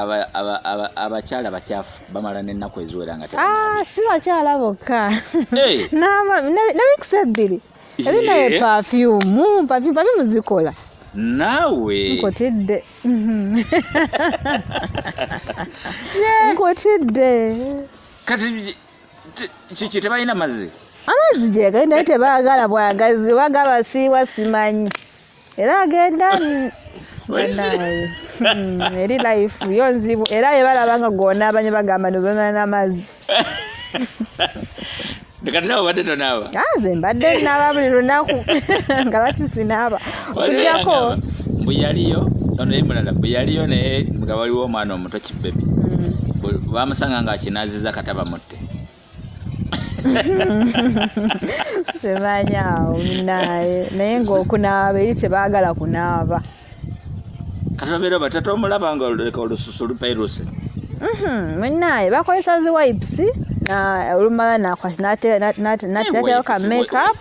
abakyala bakyafu bamala n'ennaku eziwera nga ah, si bakyala bokka eh. ne wiikisi ebbiri Eri naye Ye. perfume, perfume, perfume zikola. naawe Nkotidde. Nkotidde. kati ki- ki- kiki tebalina mazzi Amazzi gyegenda naye tebaagala bwagazi oba gabasiiwa simanyi. era agenda banaye hmm, eri life yo nzibu era yebalaba nga gona abanye bagamba nozonana n'amazzi kati nawe obadde tonaaba nze mbadde naaba buli lunaku nga lati sinaaba okujjako mbu yaliyo ono ye mulala mbu yaliyo naye nga waliwo omwana omuto kibebi hmm. bamusanga nga akinaziza katabamutte semanya awo naye naye ngaokunaaba eri tebaagala kunaaba kati babeera batata omulaba nga oleka olususu lupairuse mhm, munaye bakozesa zi wipes olumala nateekayo ka makeup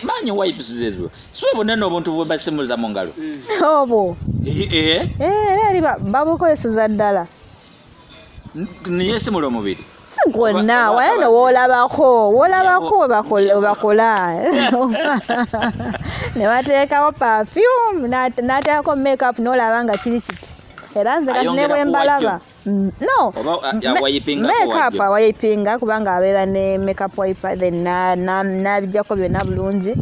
manyi wipes zezo siwebona n'obuntu bwebasimuza mu ngalo mm. obwo eh, eh. Eh, era eri babukozeseza ddala naye simuli omubiri si gwonna waye no wolabako wolabako webakola ne bateekawo perfume nateekako makeup nolaba nga kiri kiti era nze kati nebwembalaba mm, no makeup awayipinga kubanga abeera ne makeup wiper then nabijjako byonna bulungi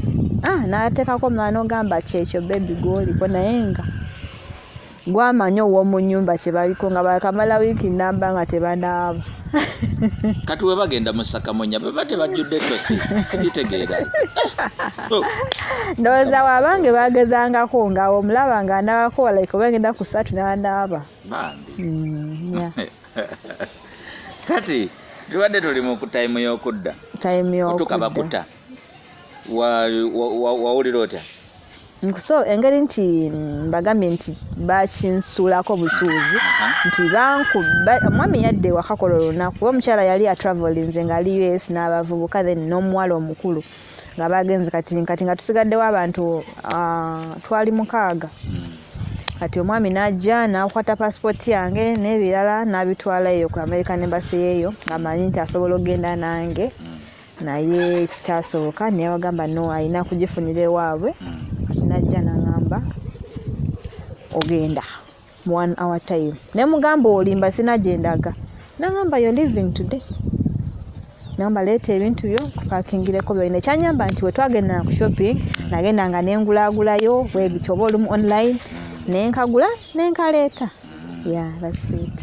ah, nateekako mwana ogamba kyekyo bebi gwoliko naye nga gwamanyi owomunyumba kyebaliko nga bakamala wiiki namba nga tebanaaba kati webagenda musakamunya baba tebajjudde tosi sibitegeera oh. ndowooza wabange bagezangako nga omulaba nga anabako like obagenda ku satu nanaaba mm, kati tubadde tuli mu time yokudda otuka bakuta wawulira otya so engeri nti mbagambye nti bakinsuulako busuuzi nti omwami yadde ewakakola olunaku oba omukyala yali atravelinze ngaali us n'abavubuka then n'omuwala omukulu nga bagenze kati kati nga tusigaddewo abantu ah, twali mukaaga hmm. kati omwami n'ajja n'akwata pasipooti yange n'ebirala n'abitwala eyo ku american embassy yeeyo amanyi nti asobola okugenda nange hmm. naye kitaasoboka naye wagamba no alina kugifunira ewaabwe hmm. kati najja nangamba ogenda mu one hour time naye mugamba olimba sina gyendaga nangamba yo living today namba leeta ebintu byo kupakingireko byolina ekyanyamba nti wetwagendana ku shopping hmm. nagenda nga nengulagulayo webityo oba olumu online hmm. nenkagula nenkaleeta ya that's it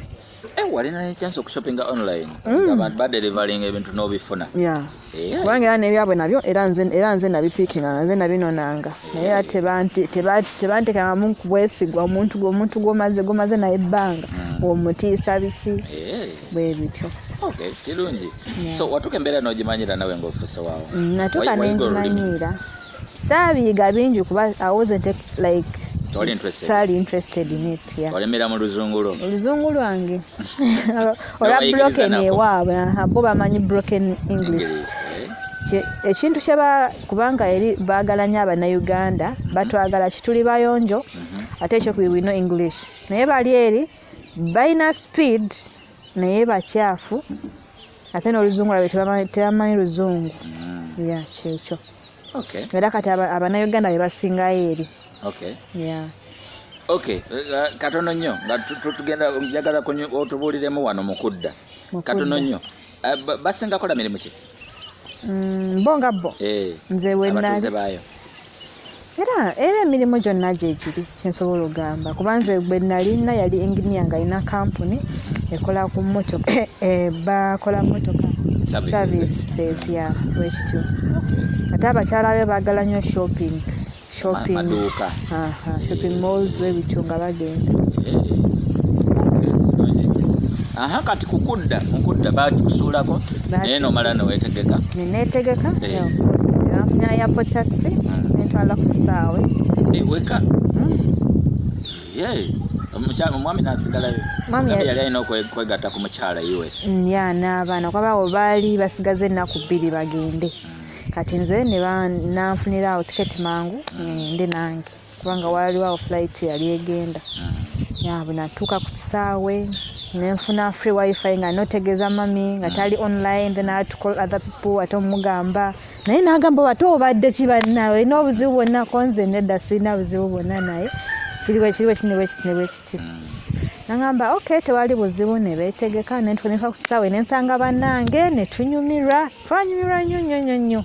Eh, walina ne chance okushoppinga online mm. nga ba delivering ebintu n'obifuna eh. kubanga era nebyabwe nabyo era nze era nze nabipikinga nga nze nabinonanga eh. naye era tebantekangamu kubwesigwa omuntu omuntu gwomaze gwomaze naye ebbanga mm. omutiisa biki bwe bityo kirungi so watuka embeera n'ogimanyira nawe ng'ofuse waawo mm, natuka nengimanyiira saabiyiga bingi kuba i wasn't like sali interested in it olemera mu luzungu lwo oluzungu lwange olwa broken ewaabwe bo bamanyi broken english eh? ekintu kyeba kubanga eri baagala nyo abanauganda batwagala kituli bayonjo mhm. ate ekyokubibwino english naye bali eri balina speed naye bakyafu ate n'oluzungu labe tebamanyi luzungu mm. ya kyekyo era kati abanauganda bebasingayo eri ok eh, eh, katono nnyo nga tugenda njagala otubuuliremu wano mukudda katono nnyo eh, basingakola mirimu ki mm, bo nga bo nze wenali era era emirimu gyonna gyegiri kyensobola ogamba kuba nze gwe nalina yali enginia nga alina kampuni ekola ku motoka eh, eh, bakola motoka services ya wekityo ate abakyala be bagala nnyo shopping shopping shopping malls bebityo nga bagenda aha kati kukudda mukudda bakikusuulako naye nomala newetegeka netegeka eh. afunya yapo taxi hmm. nentwala ku kisaawe eh, weka hmm. omukyala omwami nasigalayo yali alina okwegatta ku mukyala us mm, ya n'abaana kwabawo baali basigaza ennaku bbiri bagende mm. kati nze nanfuniraawo tiketi mangu mm. ngende nange kubanga waaliwo awo flight yali egenda yabwe hmm. natuuka ku kisaawe nenfuna free wifi nga notegeeza mami nga hmm. tali online then i had to call other people ate omugamba naye nagamba ate obadde kibannawe olina obuzibu bwonna konze nedda sirina buzibu bwonna naye kiriwe kiriwe kiniwe kitinewe kiti hmm. nagamba ok tewali buzibu nebetegeka nentunika ku kisaawe nensanga bannange netunyumirwa twanyumirwa nnyo nnyo nnyo nnyo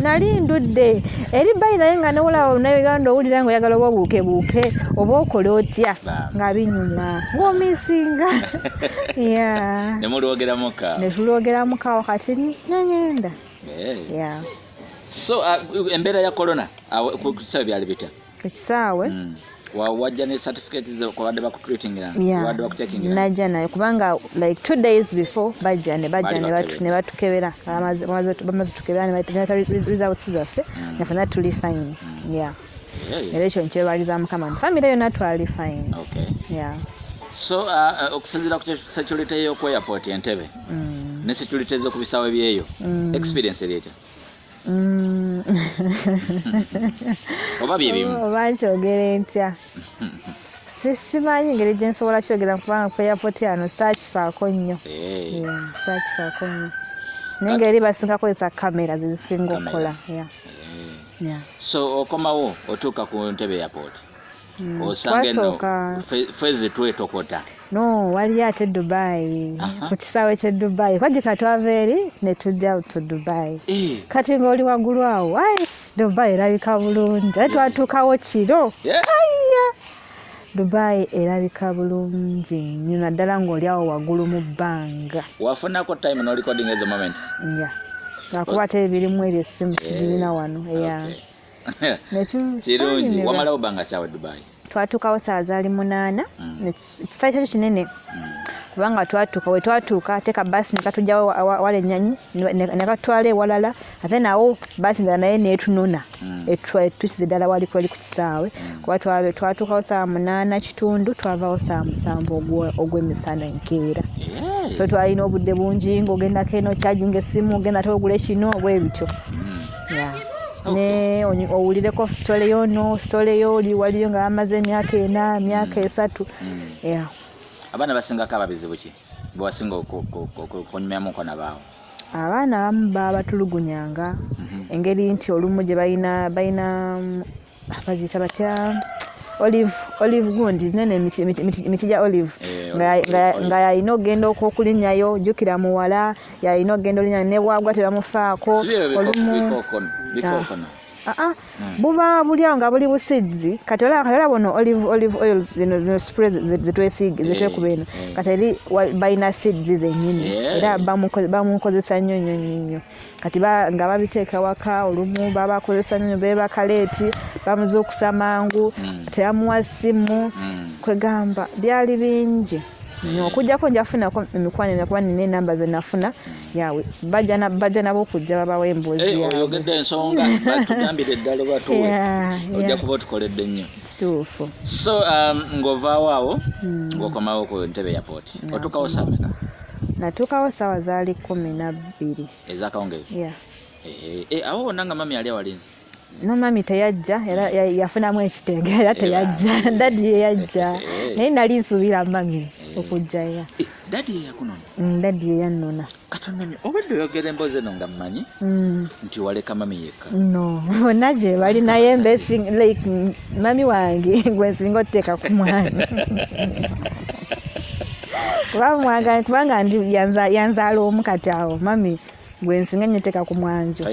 nali ndudde eri bayi naye nga newolawo nauganda owulira nga oyagala oba obuuke buuke oba okola otya nga binyuma ngaomisinga netulwogeramuka wakati nengenda eh. so uh, embeera ya corona uh, kusabe byali bitya ekisaawe mm. wajja ne certificate kwabadde bakutreatingira wabadde bakutekingira najja nayo kubanga like two days before bajja ne bajja ne batukebera bamaze tukebera ne batugata results zaffe mm. nafe na tuli fine mm. yeah era ekyo nkyebaliza mukama nti famire yona twali fine yeah so uh, uh, okusinzira ku security y'oku airport entebe mm. ne security z'oku bisaawe byeyo experience eri etya Mm. oba byebimu oh, oba nkyogere ntya simanyi ngeri gye nsobola kyogera kubanga ku airport ano saakifaako nnyo eh. saakifaako nnyo naye ngeri basinga kozesa kamera zezisinga okukola eh. so okomawo otuuka ku ntebe airport Mm. osanga eno fezi twetokota no waliyo ate dubai ku kisaawe kye dubai kwajika twava eri ne tujja to dubai eh. kati ng'oli waggulu awo aish dubai erabika bulungi aye twatuukawo kiro aiya dubai erabika bulungi nnyo naddala ng'oli awo waggulu mu bbanga wafunako time norecording ezo moments ya lwakuba ate ebirimu ebyo essimu eh, sigirina wano eya kirungi wamalawo banga kyawe dubai twatuukawo saa zaali munaana mm. ekisaawe kyakyo kinene mm. kubanga twatuuka we twatuuka teeka baasi nekatujjawo wala enyanyi nekatwala ewalala ate nawo baasi ndala naye netunona mm. etusize ddala wali kweli ku kisaawe kuba twatuukawo saa munaana kitundu twavawo saa musanvu ogw'emisana enkeera so twalina obudde bungi ngaogendako eno kyajinga essimu ogenda ate ogula ekino obwebityo ne owulireko sitole yo no sitole yo oli waliyo nga bamaze emyaka ena emyaka mm. esatu mm. abaana basingako ababizibu ki bewasinga okunyumya muko nabaawo abaana abamu babatulugunyanga mhm. engeri nti olumu gye balina bagiyita batya olive olive gundi nene emiti gya olive eh, nga yalina okugenda okulinyayo jukira muwala yalina okugenda olinyayo nebwagwa tebamufaako olumu Ah, ah. Hmm. buba buli awo nga buli busizi kati olaba buno olive olive oil zino zino spray zetwesiige eh, zetwekuba eno eh. kati eri balina sizi zenyini eh. era bamukozesa nnyo nnyo nnyo nnyo kati nga babiteeka waka olumu babakozesa nyo bebaka leeti bamuzuukusa mangu mm. teyamuwa simu mm. kwegamba byali bingi mm. okujjako njafunako emikwano ena kuba nina enamba zenafuna yawe bajja nabo okujja babawo emboozi eh, oyogedde ensonga batugambire eddala oba tuwe ojja kuba otukoledde nnyo kituufu so um, ng'ovaawo awo ng'okomawo ku ntebe ya pooti otukawo sameka natuukawo saawa zaali kumi nabbiri ezakawungezi yeah. Eh, eh, awo wonna nga mami ali awalinzi no mami teyajja era yafunamu ekitenge era teyajja dadi yeyajja eh, naye nali nsuubira mami okujja era dadi yeyakunona mm, dadi yeyannona katonda obadde oyogera emboozi eno nga mmanyi mm. nti waleka mami ye no bonna gye bali naye mbe like mami wange gwe nsinga otuteeka ku mwana kubamwanga kubanga ndi yanzaala omu kati awo mami gwe nsinga nnyo teeka ku mwanjo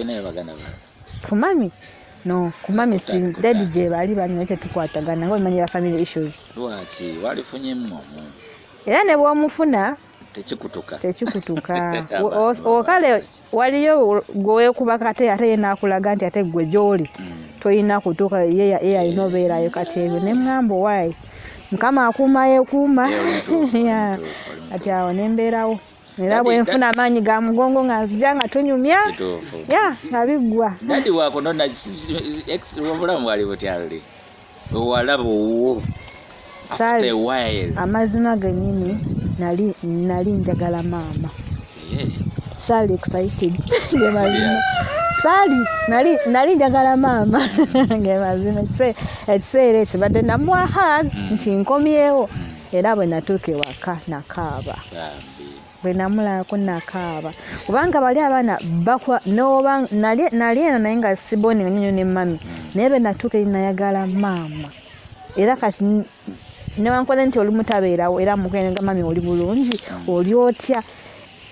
ku mami no kumami si dadi gye bali banyuma tetukwatagana nga omanyi ba family issues lwaki walifunyemu omu era ne bwomufuna tekikutuka tekikutuka okale waliyo gwewekuba kate ate ye nakulaga nti ate gwe gyoli mm. tolina kutuuka ye yalina obeerayo kati ebyo ne ŋŋamba owaayi mukama akuuma yekuuma kati awo ne mbeerawo era bwe nfuna amaanyi ga mugongo nga nzija nga tunyumya ya nga biggwa obulamu bwali butyaluli owalaba owuwo amazima genyini nali nali njagala maama sali excited ngemazima sali nali nali njagala maama ngemazima ekiseera ekyo badde namuwa hag mm. nti nkomyewo mm. era bwe natuuka ewaka nakaaba bwe namulabako nakaaba kubanga bali abaana bakwa noba nali eno naye nga siboninga nyonyo ne mami hmm. naye be natuuka eri nayagala maama era kati newankole nti oli mutabeerawo era mukenga mami oli bulungi hmm. oli otya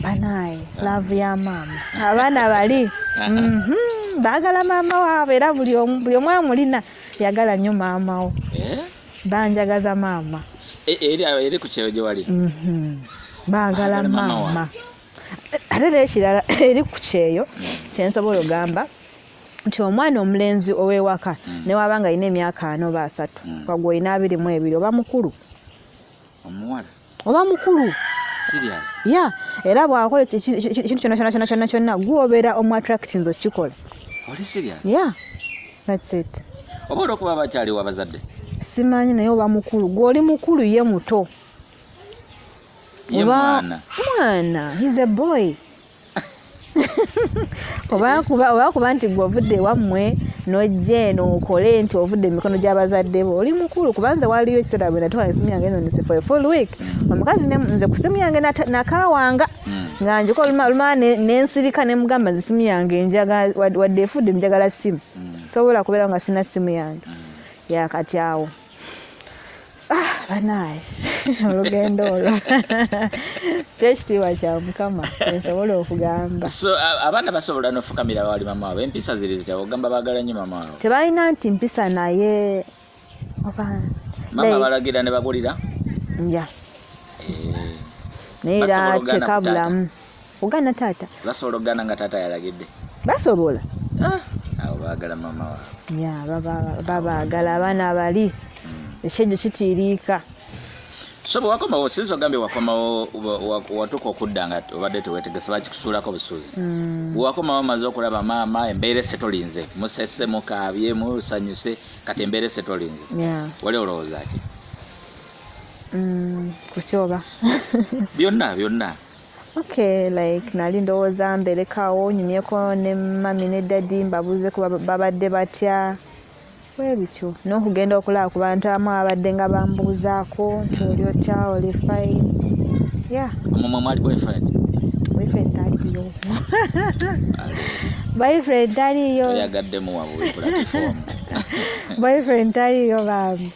banaye hmm. laavu ya maama abaana bali mhm. baagala maama waabwe era buli omu amulina yagala nnyo maamawo eh? banjagaza maama e, eri eri ku kyeyo gyewali mhm. baagala maama ate nekirala eri ku kyeyo kyensobola ogamba nti omwana omulenzi ow'ewaka mm. newaba nga alina emyaka ana oba asatu mm. wagwe olina abiri mu ebiri oba mukulu omuwala oba mukulu ya era bwakola ekintu kyona kyona kyona kyona kyona gwobeera omu attractinze okukikola ya thats it oba olwokuba bakyaliwo abazadde simanyi naye oba mukulu gwoli mukulu ye muto oba mwana he's a boy oba kuba nti gwe ovudde wammwe nojja eno okole nti ovudde emikono gy'abazadde bo oli mukulu kubanze waliyo ekiseera bwe natwala esimu yange eno nise for a full week mm. omukazi nze ku simu yange nakawanga mm. nga njiko olumala nensirika ne mugamba nze simu yange njaga wadde efudde njagala simu mm. sobola kubeera nga sina simu yange yakati awo Ah, banaye olugendo olwo kyekitiibwa kya mukama ensobola okugamba so abaana basobola nofukamira bawali mama wabwe empisa ziri zitya ogamba bagala nyo mama wabwe tebalina nti mpisa naye oba mama balagira ne bagulira ya eh. naye era tekabulamu ogana taata basobola okugana nga taata yalagidde basobola ah. abo bagala mama wa ya babagala abaana abali hmm. ekyejo kitiiriika so bwewakomawo sinza ogambye wakomawo watuuka okudda nga obadde tewetegese bakikusuulako busuuzi hmm. bwewakomawo omaze okulaba maama embeera ese tolinze musese mukaabye musanyuse kati embeera ese tolinze wali olowooza ki hmm, kukyoba byonna byonna Okay, like nali ndowooza mberekawo nyumyeko ne mami ne dadi mbabuuze ku babadde batya webityo n'okugenda okulaba ku bantu abamu ababadde nga bambuuzaako nti oli otya oli fine yeah. mumwe mwali boyfriend boyfriend taliyo boyfriend taliyo yagadde muwabuikulatifoomu boyfriend taliyo bambi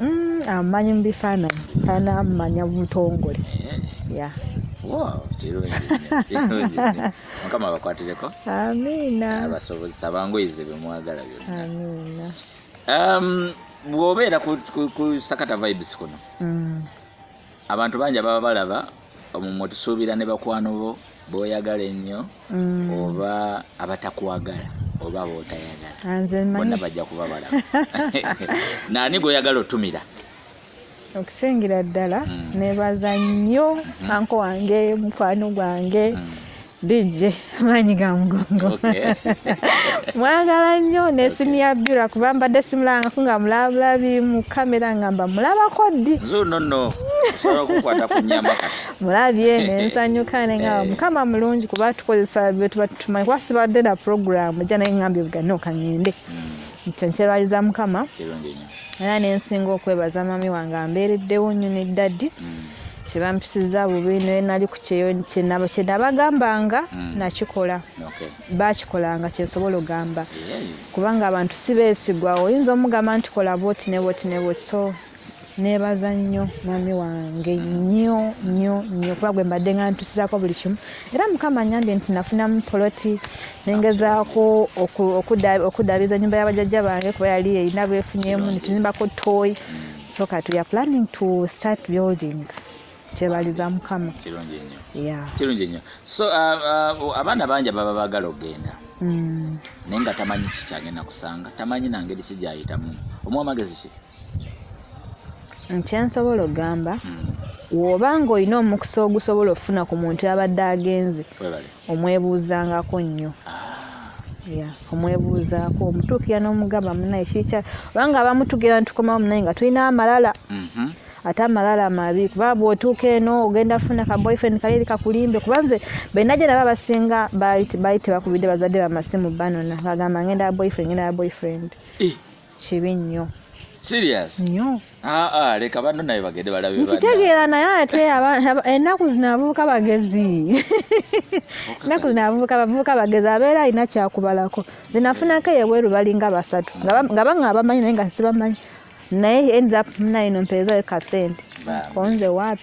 Mm, amumanyi mu bifaananyi faana amumanya butongole ya mukama abakwatireko amiina abasobozesa bangoyize bemwagala byonna amiina um, bwobeera ku sakata vibes kuno mm. Abantu bangi ababa balaba omwo mwetusuubira ne bakwano bo boyagala ennyo mm. oba abatakwagala oba botayagala bonna bajja kuba balaba naani gwoyagala otumira okusingira ddala mm. nebaza nnyo mm-hmm. anko wange mukwano gwange mm. DJ maanyi ga mugongo mwagala nnyo nesimu ya bira kuba mbadde simulangako nga mulabulabi mu kamera nga mba mulabako ddi mulabye nensanyuka ne nga eh. mukama mulungi kuba tukozesa byetuba tutumanyi kuba sibadde na puroguramu ja naye ngambye bugane okangende hmm. ekyo nkyerwaliza mukama era nensinga okwebaza mami wange ambeereddewo nnyo ne ddadi hmm. tebampisizza bubi naye nali ku kyeyo kyenabagambanga mm. nakikola bakikolanga kyensobola ogamba kubanga abantu si beesigwa oyinza omugamba nti kola boti ne boti ne boti so nebaza nnyo mwami wange nnyo nnyo nnyo kuba gwe mbadde nga ntusizako buli kimu era mukama nyambye nti nafunamu poloti nengezaako okudabiza nyumba yabajajja bange kuba yali erina bwefunyemu nituzimbako toyi so kati we are planning to start building kyebaliza mukama kirungi nnyo yeah. kirungi nnyo so uh, uh, abaana bangi baba bagala okugenda mm. naye nga tamanyi kikyagenda kusanga tamanyi nangeri kijayitamu omu amagezi ki nkyensobola okugamba mm. woba nga olina omukisa ogusobola okufuna ku muntu abadde agenze omwebuuzangako nnyo ah. omwebuuzaako omutuukira n'omugamba munaye kikya obanga abamu tugera nitukomawo munaye nga tulina amalala mhm. ate amalala amabi kuba bwotuuka eno ogenda funa ka boyfriend kaleeri kakulimbe kuba nze benaje naba abasinga baali tebakubidde bazadde bamasimu banona ngagamba ngenda ya boyfriend ngenda ya boyfriend eh. kibi nnyo serious nyo ah ah leka bano naye bagende balabe bana nkitegeera naye ate ennaku zino abavubuka bagezi ennaku zino abavubuka bavubuka bagezi abeera alina kyakubalako nze nafunako eyebweru balinga basatu nga banga abamanyi naye nga sibamanyi naye ends up muna ino mpeezayo kasente konze wapi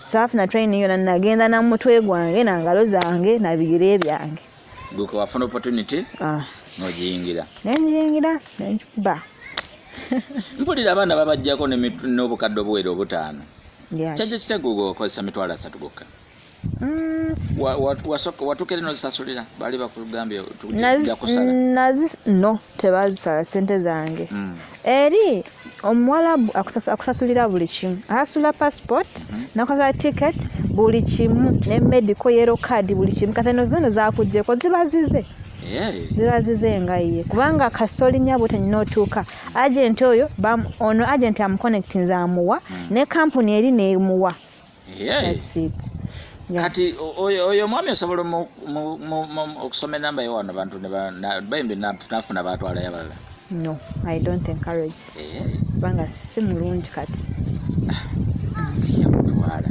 saafuna training yona nagenda na mutwe gwange na ngalo zange na bigere byange guko wafuna opportunity ah nojingira nenjingira nenjukuba mpulira abaana babajjako n'obukadde obuwera obutaano kyajja kitego okozesa mitwalo asatu gokka mm. watukere nozisasulira bali bakugambye tuja kusala no tebazisala sente zange mm. eri omuwalabu akusasulira buli kimu asasula passport mm-hmm. nakusasula ticket buli kimu ne medical yero card buli kimu katheno zino zakujeko ziba zize ziba zize nga ye kubanga kasita olinya bwe tenyina otuuka agenti oyo ono agenti amuconnectinze amuwa mm. ne kampuni eri nemuwa kati oyo omwami osobola okusoma enamba yo wano bantu bembi nafuna batwalayo abalala no i don't encourage kubanga si mulungi kati yamutwala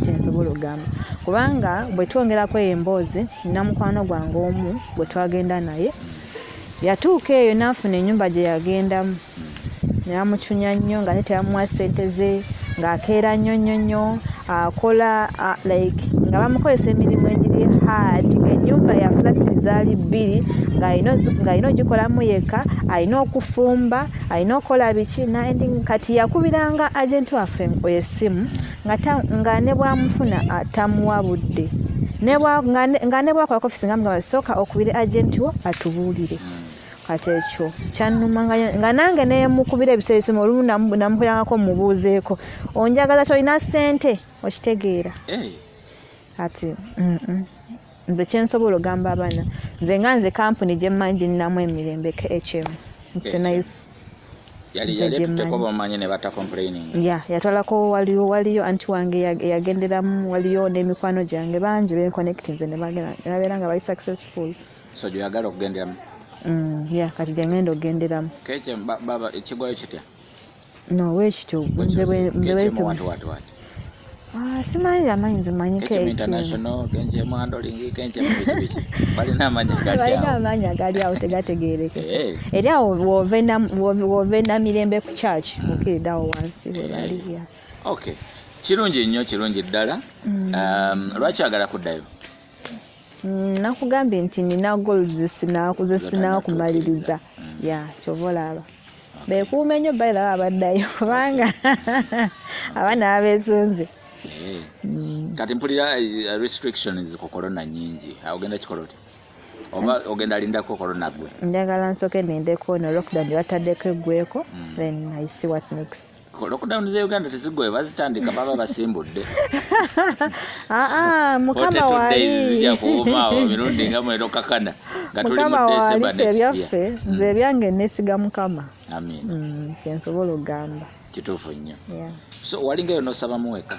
kyensobola okugamba kubanga bwe twongerako eyo emboozi namukwano gwange omu bwe twagenda naye yatuuka eyo n'afuna enyumba gye yagendamu namucunya nnyo nga tetebamuwa sente ze ng'akeera nnyo nnyo nnyo akola like nga bamukozesa emirimu egiri hard ennyumba ya flats zaali bbiri ng'alina ogikolamu yekka alina okufumba alina okukola biki kati yakubiranga agenti waffe esimu nga ne bwamufuna tamuwa budde nga ne bwakola kofisi nga mugamba sooka okubire agenti wo atubuulire kati ekyo kyannuma nga nange nemukubira ebiseera ebisomo olumu namukulangako mubuuzeeko onjagaza kyolina ssente okitegeera eh. kati nze kyensobola ogamba abaana nze nga nze kampuni gyemmanyi ginnamu emirembe ekyemu yatwalako waliwo waliyo anti wange yagenderamu waliyo n'emikwano gyange bangi benkonekti nze nebabeera nga bali successful so gyoyagala okugenderamu mm, ya kati gyengenda okugenderamu kece baba ekigwayo kitya nowekityo nze bwekityo Ah, simanyi amanyi nze manyi balina amaanyi agali awo tegategeereke eh. eri awo wove namirembe ku church hmm. okirida awo wansi webaliya eh. kirungi nnyo kirungi ddala hmm. um, lwaki agala kuddayo Mm, nakugambye nti nina gol zesinakumaliriza mm. ya kyova olaba bekuuma enyo bailaba abaddayo kubanga abaana babesunze eh. mm. kati mpulira eh, restrictions ku corona nyingi ogenda kikola otya oba ogenda alindako corona gwe njagala nsoke nendeko no lockdown batadeko egweko then i see what next lockdown za uganda tezigoye bazitandika baba basimbudde ah, ah, mukama wali zija kuwumaawo mirundi nga mwero kakana nga tuli mu december next year nze mm. ebyange nesiga mukama amin mm, kyensobola okugamba kituufu nnyo so walingayo nosaba muweka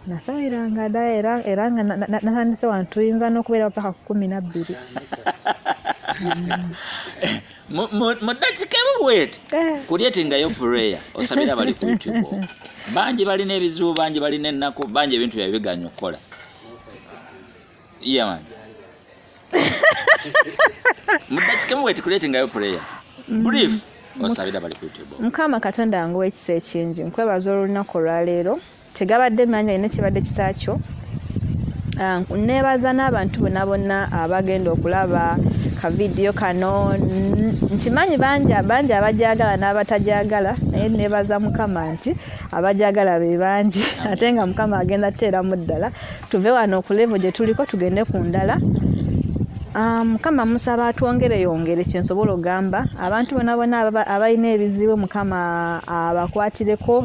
nasabiranga da era era nga natandise wano tuyinza n'okubeera paka ku kumi nabbiri mu dakika ebuweti eh. kulyetingayo pureya osabira abali ku youtube bangi balina ebizibu bangi balina ennaku bangi ebintu byabwe biganya okukola yaman mu dakika ebuweti kulyetingayo pureya mm. brief osabira abali ku youtube mukama katonda nguwa ekisa ekingi nkwebaza olunaku olwaleero tegabadde manyi alina ekibadde kisa kyo ah, nebaza n'abantu bona bonna abagenda okulaba kavidiyo kano nkimanyi bangi bangi abajagala n'abatajagala naye nebaza mukama nti abajagala be bangi ate nga mukama agenda teeramu ddala tuve wano okulevo gye tuliko tugende ku ndala Ah, mukama musaba atwongere yongere kyensobola ogamba abantu bona bona abalina ebizibu mukama abakwatireko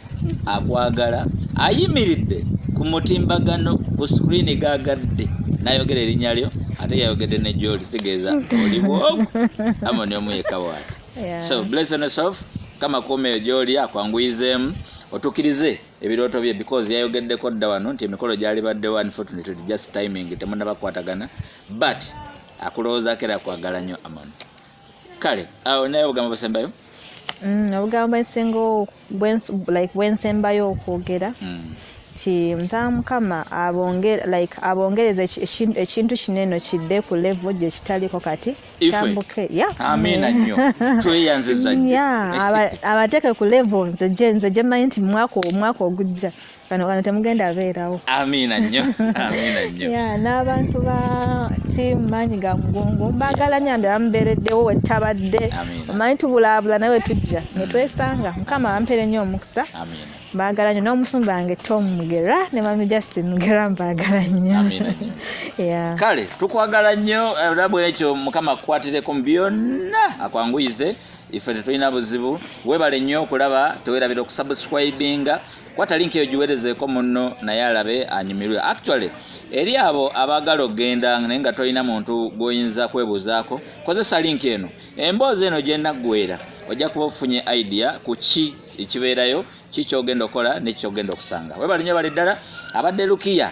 akwagala ayimiridde ku mutimbagano ku sikirini gagadde nayogera erinnya lyo ate yayogedde ne gyoli kitegeeza oliwo amoni omu yekka bwati so blessings of kama kuumeyo gyoli akwanguyizeemu otukirize ebirooto bye because yayogeddeko dda wano nti emikolo gyalibaddewo unfortunately just timing temunabakwatagana but akulowoozaako era akwagala nnyo amoni kale awo naye obugambo busembayo mm, obugambo bwensingawo like bwensembayo okwogera mm. ti nzaa mukama like abongereza ekintu kino eno kidde ku levo gyekitaliko kati tambuke abateeke ku levo nze gyemanyi nti mwaka ogujja kano kano temugenda abeerawo amiina nnyo amiina nnyo ya n'abantu ba tiimu maanyi ga mugongo mbaagala nnyo ambi abamubeereddewo wettabadde omanyi tubulaabula nawe tujja ne twesanga mukama abampere nnyo omukisa mbaagala nnyo n'omusumba wange tom mugera ne mami justin mugera mbaagala nnyo kale tukwagala nnyo era bwekyo mukama akukwatireko mu byonna akwanguyize ife tetulina buzibu webale nnyo okulaba tewerabira okusubscribinga kwata link eyo giwerezeeko munno naye alabe anyumirwe actually eri abo abaagala okugenda naye nga tolina muntu gw'oyinza kwebuuzaako kozesa link eno emboozi eno gyenaggwera ojja kuba ofunye idea ku ki ekibeerayo ki kyogenda okukola nekikyogenda okusanga webalinyo bali ddala abadde lukiya